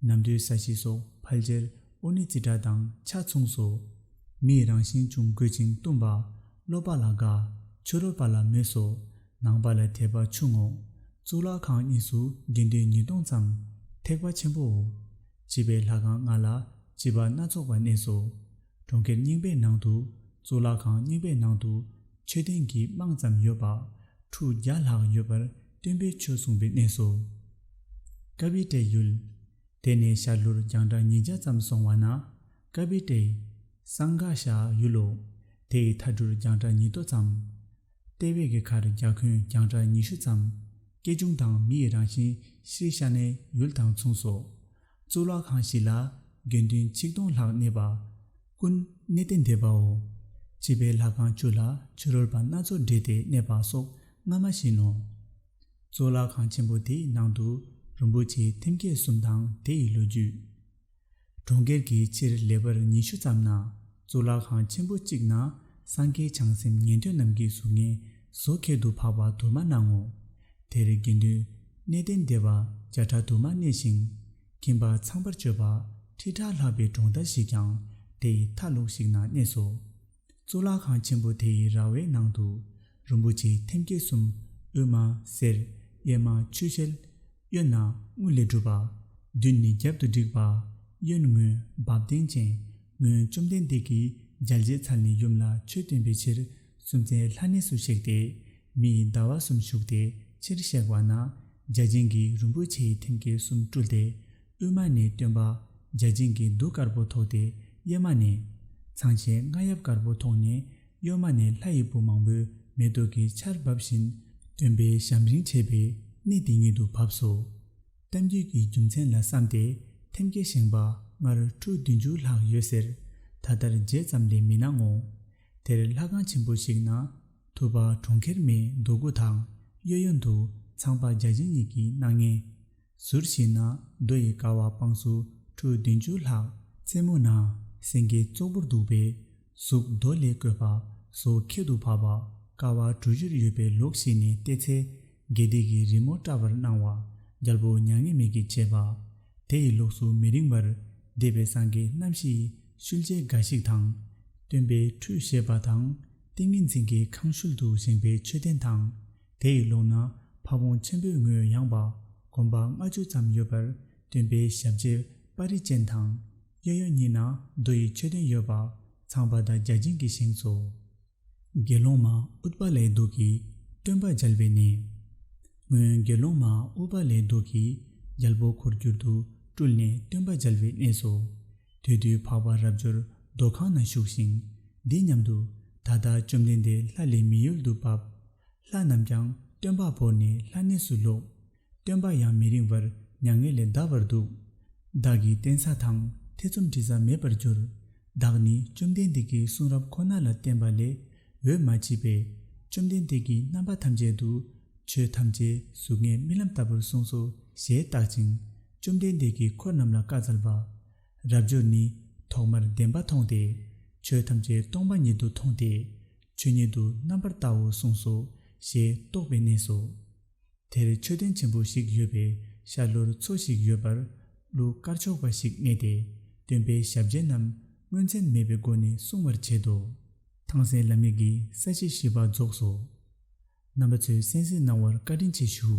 Speaker 1: ནམ་དུས་ས་གཤིས་སོགས་ཕལ་ཆེར་ཨོ་ནི་ཙི་སྒྲ་དང་ཆ་མཚུངས་སོ། མིས་རང་བཞིན་ཅུང་རྒོད་ཅིང་གཏུམ་པ། སློབ་པ་ལ་དགའ། ཆོས་རོལ་པ་ལ་མོས་སོ། ནང་པ་ལ་དད་པ་ཆུང་ངོ། གཙུག་ལག་ཁང་གཉིས་སུ་དགེ་འདུན་ཉིས་སྟོང་ཙམ། ཐེག་པ་ཆེན་པོའོ། བྱིས་པའི་ལྷ་ཁང་ལྔ་ལ་བྱིས་པ་སྣ་ཚོགས་པ་གནས་སོ། གྲོང་ཁྱེར་རྙིང་པའི་ནང་དུ། གཙུག་ལག་ཁང་རྙིང་པའི་ནང་དུ། མཆོད་རྟེན་གྱི་རྨང་ཙམ་ཡོད་པ། ཁྲུ་བརྒྱ་ལྷག་ཡོད་པར་སྟོན་པས་ཆོས་གསུངས་པའི་གནས་སོ། ཀ་བི་ཏྲའི་ཡུལ། དེ་ནས་ཤར་ལྷོར་རྒྱང་གྲགས་ཉིས་བརྒྱ་ཙམ་སོང་བ་ན། ཀ་བི་ཏྲའི། སངས་དགའ་ཤའི་ཡུལ་ལོ། དེ་ཡི་མཐའ་འབྲུར་རྒྱང་གྲགས་ཉིས་སྟོང་ཙམ། ལྟེ་བའི་གྷི་གྷར་རྒྱ་ཁུན་རྒྱང་གྲགས་ཉི་ཤུ་ཙམ། སྐྱེ་ཆུང་དང་མི་ཡི་རང་བཞིན་ཤྲཱི་ཤ་ནའི་ཡུལ་དང་མཚུངས་སོ། གཙུག་ལག་ཁང་བཞི་ལ་དགེ་འདུན་ཆིག་སྟོང་ལྷག་གནས་པ། ཀུན་གནས་ཏེ་འདས་པའོ། བྱིས་པའི་ལྷ་ཁང་བཅུ་ལ་བྱི་རོལ་པ་སྣ་ཚོགས་བསྒྲིལ་ཏེ་གནས་པ་སོགས་སྔ་མ་བཞིན་ནོ། གཙུག་ལག་ཁང་ཆེན་པོ་དེའི་ནང་དུ་རིན་པོ་ཆེའི་ཐེམ་སྐས་གསུམ་དང་དེ་ཡི་ལོ་རྒྱུས། གྲོང་ཁྱེར་གྱི་ཕྱིར་ལེ་བར་ཉི་ཤུ་ཙམ་ན་གཙུག་ལག་ཁང་ཆེན་པོ་གཅིག་ན་སངས་རྒྱས་བྱང་སེམས་ཉན་ཐོས་རྣམས་ཀྱི་གཟུགས་བརྙན་བཟོ་ཁེལ་དུ་འཕགས་པ་དུ་མ་སྣང་ངོ། དེར་དགེ་འདུན། གནས་བརྟན་སྡེ་བ་བརྒྱ་ཕྲག་དུ་མ་གནས་ཤིང། ཁྱིམ་པ་ཚངས་པར་སྤྱོད་པ་ཁྲི་ཕྲག་ལྷག་པའི་གྲོང་རྡལ་ཞིག་ཀྱང་དེའི་མཐའ་ལུགས་ཤིག་ན་གནས་སོ། གཙུག་ལག་ཁང་ཆེན་པོ་དེའི་ར་བའི་ནང་དུ། རིན་པོ་ཆེ་ཐེམ་སྐས་གསུམ། དབུས་མ་གསེར། གཡས་མ་ཆུ་ཤེལ། གཡོན་ན་དངུལ་ལས་གྲུབ་པ། མདུན་ནི་རྒྱབ་ཏུ་བསྒྲིགས་པ། གཡོན་ངོས་འབབ་ལྡན་ཅན། ངོས་བཅོམ་ལྡན་འདས་ཀྱིས་འཇལ་བྱེད་ཚར་ནས་ཡུམ་ལ་ཆོས་བསྟན་པའི་ཕྱིར། སུམ་རྩེན་ལྷ་གནས་སུ་གཤེགས་ཏེ། མི་ཡི་ཟླ་བ་གསུམ་བཞུགས་ཏེ་ཕྱིར་གཤེགས་པ་ན། བརྒྱ་བྱིན་གྱིས་རིན་པོ་ཆེའི་ཐེམ་སྐས་གསུམ་བཀྲུས་ཏེ། དབུས་མ་ནས་སྟོན་པ། བརྒྱ་བྱིན་གྱིས་གདུགས་དཀར་པོ་ཐོགས་ཏེ་གཡས་མ་ནས། ཚངས་ཆེན་རྔ་ཡབ་དཀར་པོ་ཐོགས་ནས་གཡོན་མ་ནས་ལྷ་ཡི་བུ་མང་པོས་མེ་ཏོག་གི་ཆར་འབབ་བཞིན། སྟོན་པའི་ཞམ་རིང་བྱས་པས་གནས་དེ་ཉིད་དུ་བབས་སོ། གཏམ་རྒྱུད་ཀྱི་རྒྱུ་མཚན་ལ་བསམ་སྟེ་ཐེམ་སྐས་བཞེངས་པ་སྔར་ཁྲུ་བདུན་ཅུ་ལྷག་ཡོད་ཟེར། ད་ལྟར་བརྗེད་ཙམ་ལས་མི་སྣང་ངོ། དེར་ལྷ་ཁང་ཆེན་པོ་ཞིག་ན་ཐུབ་པ་གྲོང་ཁྱེར་མའི་འདུག་སྒོ་དང་གཡོ་གཡོ་འདུག་ཚངས་པ་བརྒྱ་བྱིན་གཉིས་ཀྱི་སྣང་བརྙན། ཟུར་ཞིག་ན་རྡོ་ཡི་ཀ་བ་དཔངས་སུ་ཁྲུ་བདུན་ཅུ་ལྷག་རྩེ་མོ་ན་སེང་གེ་ཙོག་པུར་འདུག་པའི་གཟུགས་རྡོ་ལས་བརྐོས་པ་སོ་ཁད་དུ་བབས་པ་ཀ་བ་གྲུ་བཞིར་ཡོད་པའི་ལོགས་ཤིག་ནས་བལྟས་ཚེ་དགེ་སྡིག་གི་རི་མོ་བཀྲ་བར་སྣང་བ། རྒྱལ་པོ་མྱ་ངན་མེད་ཀྱིས་བྱས་པ། དེ་ཡི་ལོགས་སུ་མི་རིང་བར། འདས་པའི་སངས་རྒྱས་རྣམ་བཞི་ཡི། ཤུལ་རྗེས་འགའ་ཞིག་དང། སྟོན་པའི་ཁྲུས་བཞེས་པ་དང། ཏིང་ངེ་འཛིན་གྱི་ཁང་ཤུལ་དུ་བཞེངས་པའི་མཆོད་རྟེན་དང། དེ་ཡི་ལོགས་ན་ཕ་བོང་ཆེན་པོའི་ངོས་ཡངས་པ། གོམ་པ་ལྔ་བཅུ་ཙམ་ཡོད་པར་སྟོན་པའི་ཞབས་རྗེས་དཔའ་རི་ཅན་དང། གཡས་གཡོན་གཉིས་ན་རྡོ་ཡི་མཆོད་རྟེན་ཡོད་པ། ཚངས་པ་དང་བརྒྱ་བྱིན་གྱི་བཞེངས་སོ། དགེ་སློང་མ་ཨུཏྤ་ལའི་གདུགས་ཀྱིས་སྟོན་པ་སྦྱལ་བས་ནི། སྔོན་དགེ་སློང་མ་ཨུཏྤ་ལའི་གདུགས་ཀྱིས་རྒྱལ་པོ་འཁོར་བསྒྱུར་དུ་སྤྲུལ་ནས་སྟོན་པ་སྦྱལ་བའི་གནས་སོ། དུས་དུས་འཕགས་པ་རབ་འབྱོར་རྡོ་ཁང་ན་བཞུགས་ཤིང། འདི་སྙམ་དུ། ད་ལྟ་བཅོམ་ལྡན་འདས་ལྷ་ལས་མི་ཡུལ་དུ་བབས། ལྷ་རྣམས་ཀྱང་སྟོན་པ་བོར་ནས་ལྷ་གནས་སུ་ལོག། སྟོན་པ་ཡང་མི་རིང་བར་མྱ་ངན་ལས་འདའ་བར་འདུག། བདག་གིས་བསྟན་ས་དང་ཐེ་ཚོམ་དྲི་ས་མེད་པར་གྱུར། བདག་ནི་བཅོམ་ལྡན་འདས་ཀྱི་གསུང་རབ་ཁོ་ན་ལ་བརྟེན་པ་ལས་འོས་མ་མཆིས་པས། བཅོམ་ལྡན་འདས་ཀྱིས་རྣམ་པ་ཐམས་ཅད་དུ། ཆོས་ཐམས་ཅད་གཟུགས་ལྔའི་རྨི་ལམ་ལྟ་བུར་གསུངས་སོ་ཞེས་བརྟག་ཅིང། བཅོམ་ལྡན་འདས་ཀྱིས་འཁོར་རྣམས་ལ་བཀའ་སྩལ་པ། རབ་འབྱོར་ནི། ཐོག་མར་བདེན་པ་མཐོང་སྟེ། ཆོས་ཐམས་ཅད་སྟོང་པ་ཉིད་དུ་མཐོང་སྟེ། ཆོས་ཉིད་དུ་རྣམ་པར་བལྟའོ་གསུངས་སོ་ཞེས་རྟོགས་པའི་གནས་སོ། དེར་མཆོད་རྟེན་ཆེན་པོ་ཞིག་ཡོད་པས་ཤར་ལྷོར་མཚོ་ཞིག་ཡོད་པར་གླུ་གར་ཆོག་པ་ཞིག་རྙེད་དེ་སྟོན་པའི་ཞབས་རྗེས་རྣམས་དངོས་མཚན་མེད་པའི་སྒོ་ནས་སྲུང་བར་བྱེད་དོ། ཐང་སན་བླ་མེད་ཀྱིས་ས་བྱི་བཞི་པ་རྫོགས་སོ། རྣམ་པ་ཚོས་གསན་གཟིགས་གནང་བར་བཀའ་དྲིན་ཆེ་ཞུ།